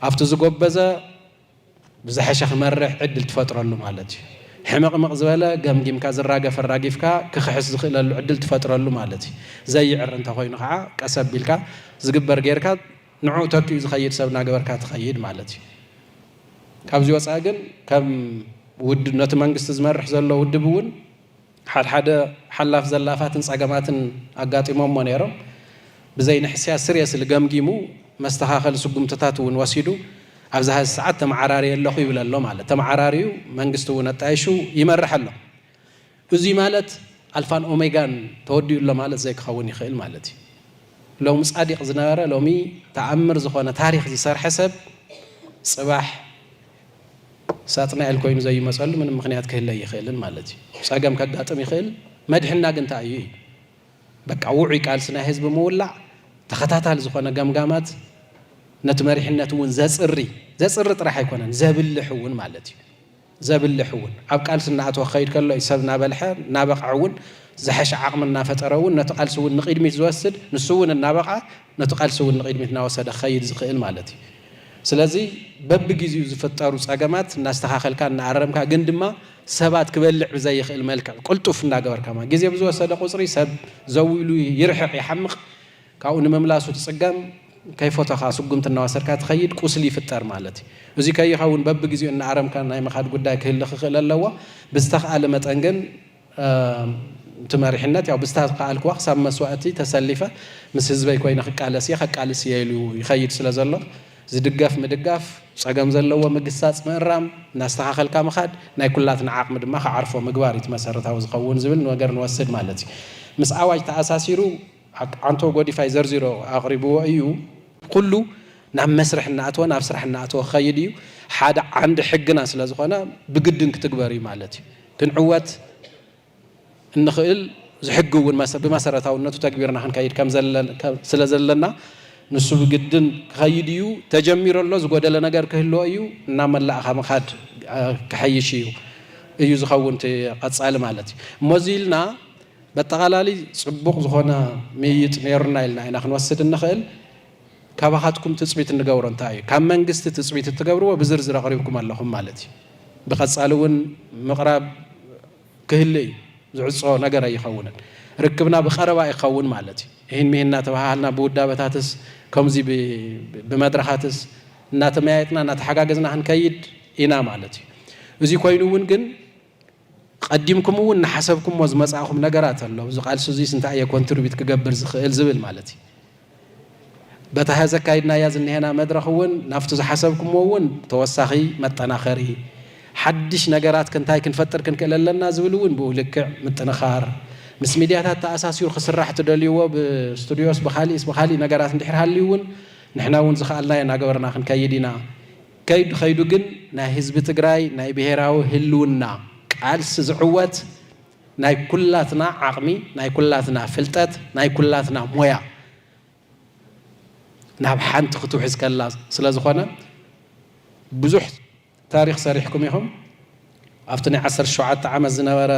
ኣብቲ ዝጎበዘ ብዝሐሸ ክመርሕ ዕድል ትፈጥረሉ ማለት እዩ። ሕምቕምቕ ዝበለ ገምጊምካ ዝራገፍ ኣራጊፍካ ክኽሕስ ዝኽእለሉ ዕድል ትፈጥረሉ ማለት እዩ። ዘይዕሪ እንተኾይኑ ከዓ ቀስ ኣቢልካ ዝግበር ገይርካ ንዑ ተኪኡ ዝኸይድ ሰብ እናገበርካ ትኸይድ ማለት እዩ። ካብዚ ወፃኢ ግን ከም ውድ ነቲ መንግስቲ ዝመርሕ ዘሎ ውድብ እውን ሓድሓደ ሓላፍ ዘላፋትን ፀገማትን ኣጋጢሞሞ ነይሮም ብዘይ ንሕስያ ስሪየስሊ ገምጊሙ መስተኻኸሊ ስጉምትታት እውን ወሲዱ ኣብዚ ሀዚ ሰዓት ተመዓራርየ ኣለኹ ይብል ኣሎ ማለት ተመዓራርዩ መንግስቲ እውን ኣጣይሹ ይመርሕ ኣሎ። እዙይ ማለት ኣልፋን ኦሜጋን ተወዲኡ ኣሎ ማለት ዘይክኸውን ይኽእል ማለት እዩ። ሎሚ ጻዲቅ ዝነበረ ሎሚ ተኣምር ዝኾነ ታሪኽ ዝሰርሐ ሰብ ጽባሕ ሳጥናኤል ኮይኑ ዘይመጸሉ ምንም ምክንያት ክህለ ኣይኽእልን ማለት እዩ። ጸገም ከጋጥም ይኽእል መድሕና ግን እንታይ እዩ እዩ። በቃ ውዑይ ቃልሲ ናይ ህዝቢ ምውላዕ ተኸታታሊ ዝኾነ ገምጋማት ነቲ መሪሕነት እውን ዘጽሪ ዘጽሪ ጥራሕ ኣይኮነን ዘብልሕ እውን ማለት እዩ። ዘብልሕ እውን ኣብ ቃልሲ እናኣተወ ክኸይድ ከሎ እዩ። ሰብ እናበልሐ እናበቕዐ እውን ዝሐሸ ዓቕሚ እናፈጠረ እውን ነቲ ቃልሲ እውን ንቕድሚት ዝወስድ ንሱ እውን እናበቕዐ ነቲ ቃልሲ እውን ንቕድሚት እናወሰደ ክኸይድ ዝኽእል ማለት እዩ። ስለዚ በብጊዚኡ ዝፍጠሩ ፀገማት እናስተኻኸልካ እናኣረምካ ግን ድማ ሰባት ክበልዕ ብዘይኽእል መልክዕ ቅልጡፍ እናገበርካ ማለት ግዜ ብዝወሰደ ቁፅሪ ሰብ ዘው ኢሉ ይርሕቕ ይሓምቕ ካብኡ ንምምላሱ ትጽገም፣ ከይፎተኻ ስጉምቲ እናወሰድካ ትኸይድ፣ ቁስሊ ይፍጠር ማለት እዩ። እዙይ ከይኸውን በብግዜኡ እናኣረምካ ናይ ምኻድ ጉዳይ ክህሊ ክኽእል ኣለዎ። ብዝተኽኣለ መጠን ግን እቲ መሪሕነት ያው ብዝተኽኣልክዋ ክሳብ መስዋእቲ ተሰሊፈ ምስ ህዝበይ ኮይነ ክቃለስ እየ፣ ከቃልስ እየ ኢሉ ይኸይድ ስለዘሎ ዝድገፍ ምድጋፍ፣ ፀገም ዘለዎ ምግሳፅ ምእራም፣ እናስተኻኸልካ ምኻድ፣ ናይ ኩላትና ዓቕሚ ድማ ክዓርፎ ምግባር እዩ እቲ መሰረታዊ ዝኸውን ዝብል ነገር ንወስድ ማለት እዩ። ምስ ኣዋጅ ተኣሳሲሩ፣ ኣብ ዓንቶ ጎዲፋይ ዘርዚሩ ኣቕሪብዎ እዩ። ኩሉ ናብ መስርሕ እናኣተወ ናብ ስራሕ እናኣተወ ክኸይድ እዩ። ሓደ ዓንዲ ሕግና ስለ ዝኾነ ብግድን ክትግበር እዩ ማለት እዩ። ክንዕወት እንኽእል ዝሕጊ እውን ብመሰረታውነቱ ተግቢርና ክንከይድ ስለ ዘለና ንሱ ብግድን ክኸይድ እዩ። ተጀሚሩ ኣሎ፣ ዝጎደለ ነገር ክህልዎ እዩ። እናመላእኻ ምኻድ ክሐይሽ እዩ እዩ ዝኸውን እቲ ቐፃሊ ማለት እዩ። እሞ እዙይ ኢልና በጠቓላሊ ጽቡቕ ዝኾነ ምይይጥ ነይሩና ኢልና ኢና ክንወስድ እንኽእል። ካባኻትኩም ትጽቢት እንገብሮ እንታይ እዩ? ካብ መንግስቲ ትጽቢት እትገብርዎ ብዝርዝር ኣቕሪብኩም ኣለኹም ማለት እዩ። ብቐጻሊ እውን ምቕራብ ክህሊ እዩ። ዝዕጾ ነገር ኣይኸውንን። ርክብና ብቐረባ ይኸውን ማለት እዩ። እሂን ምሂን እናተበሃሃልና ብውዳበታትስ ከምዚ ብመድረኻትስ እናተመያየጥና እናተሓጋገዝና ክንከይድ ኢና ማለት እዩ። እዚ ኮይኑ እውን ግን ቐዲምኩም እውን እናሓሰብኩሞ ዝመፃእኹም ነገራት ኣሎ፣ ኣብዚ ቓልሲ እዙይስ እንታይ እየ ኮንትሪቢዩት ክገብር ዝኽእል ዝብል ማለት እዩ። በታ ሐዚ ኣካይድናያ ዝኒሀና መድረኽ እውን ናብቲ ዝሓሰብኩሞ እውን ተወሳኺ መጠናኸሪ፣ ሓድሽ ነገራት እንታይ ክንፈጥር ክንክእል ኣለና ዝብል እውን ብኡ ልክዕ ምጥንኻር፣ ምስ ሚድያታት ተኣሳሲሩ ክስራሕ ትደልይዎ ብስቱድዮስ ብኻሊእስ ብኻሊእ ነገራት እንድሕር ሃልዩ እውን ንሕና እውን ዝኸኣልናዮ እናገበርና ክንከይድ ኢና። ከይዱ ከይዱ ግን ናይ ህዝቢ ትግራይ ናይ ብሄራዊ ህልውና ቃልሲ ዝዕወት ናይ ኩላትና ዓቕሚ፣ ናይ ኩላትና ፍልጠት፣ ናይ ኩላትና ሞያ ናብ ሓንቲ ክትውሕዝ ከላ ስለዝኾነ ብዙሕ ታሪኽ ሰሪሕኩም ኢኹም። ኣብቲ ናይ ዓሰርተ ሸውዓተ ዓመት ዝነበረ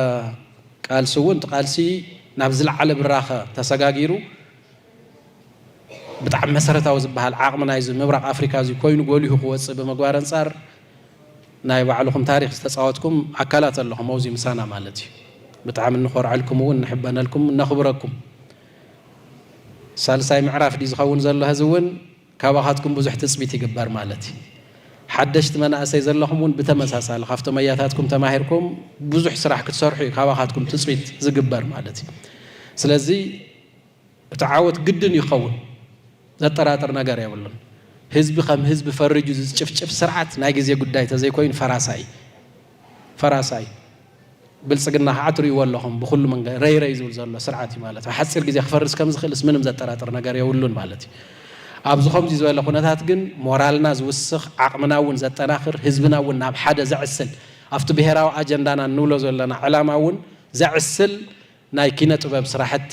ቃልሲ እውን እቲ ቃልሲ ናብ ዝለዓለ ብራኸ ተሰጋጊሩ ብጣዕሚ መሰረታዊ ዝበሃል ዓቕሚ ናይዚ ምብራቕ ኣፍሪካ እዚ ኮይኑ ጎሊሁ ክወፅእ ብምግባር ኣንፃር ናይ ባዕልኹም ታሪኽ ዝተፃወትኩም ኣካላት ኣለኹም ኣብዙይ ምሳና ማለት እዩ። ብጣዕሚ እንኾርዐልኩም እውን ንሕበነልኩም እነኽብረኩም። ሳልሳይ ምዕራፍ ድዩ ዝኸውን ዘሎ ሀዚ እውን ካባኻትኩም ብዙሕ ትፅቢት ይግበር ማለት እዩ። ሓደሽቲ መናእሰይ ዘለኹም እውን ብተመሳሳሊ ካብቶም ኣያታትኩም ተማሂርኩም ብዙሕ ስራሕ ክትሰርሑ እዩ ካባኻትኩም ትፅቢት ዝግበር ማለት እዩ። ስለዚ እቲ ዓወት ግድን ይኸውን ዘጠራጥር ነገር የብሉን። ህዝቢ ከም ህዝቢ ፈሪጁ ዝጭፍጭፍ ስርዓት ናይ ግዜ ጉዳይ ተዘይኮይኑ ፈራሳ እዩ። ፈራሳ እዩ። ብልጽግና ከዓ ትርእይዎ ኣለኹም ብኹሉ መንገ ረይ ረይ ዝብል ዘሎ ስርዓት እዩ ማለት ኣብ ሓጺር ግዜ ክፈርስ ከም ዝኽእልስ ምንም ዘጠራጥር ነገር የብሉን ማለት እዩ። ኣብዚ ከምዚ ዝበለ ኩነታት ግን ሞራልና ዝውስኽ ዓቕምና እውን ዘጠናኽር ህዝብና እውን ናብ ሓደ ዘዕስል ኣብቲ ብሄራዊ ኣጀንዳና እንብሎ ዘለና ዕላማ እውን ዘዕስል ናይ ኪነ ጥበብ ስራሕቲ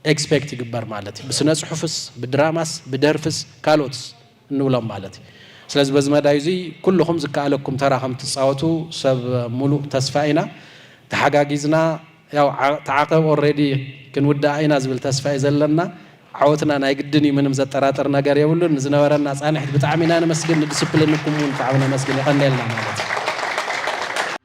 ኤክስፔክት ይግበር ማለት እዩ። ብስነ ፅሑፍስ፣ ብድራማስ፣ ብደርፍስ ካልኦትስ እንብሎም ማለት እዩ። ስለዚ በዚ መዳይ እዙይ ኩልኹም ዝከኣለኩም ተራ ከምትፃወቱ ሰብ ሙሉእ ተስፋ ኢና። ተሓጋጊዝና ያው ተዓቐብ ኦሬዲ ክንውድኣ ኢና ዝብል ተስፋ እዩ ዘለና። ዓወትና ናይ ግድን እዩ ምንም ዘጠራጥር ነገር የብሉን። ንዝነበረና ፃንሒት ብጣዕሚ ኢና ነመስግን፣ ንድስፕሊንኩም እውን ብጣዕሚ ነመስግን። የቐንየልና ማለት እዩ።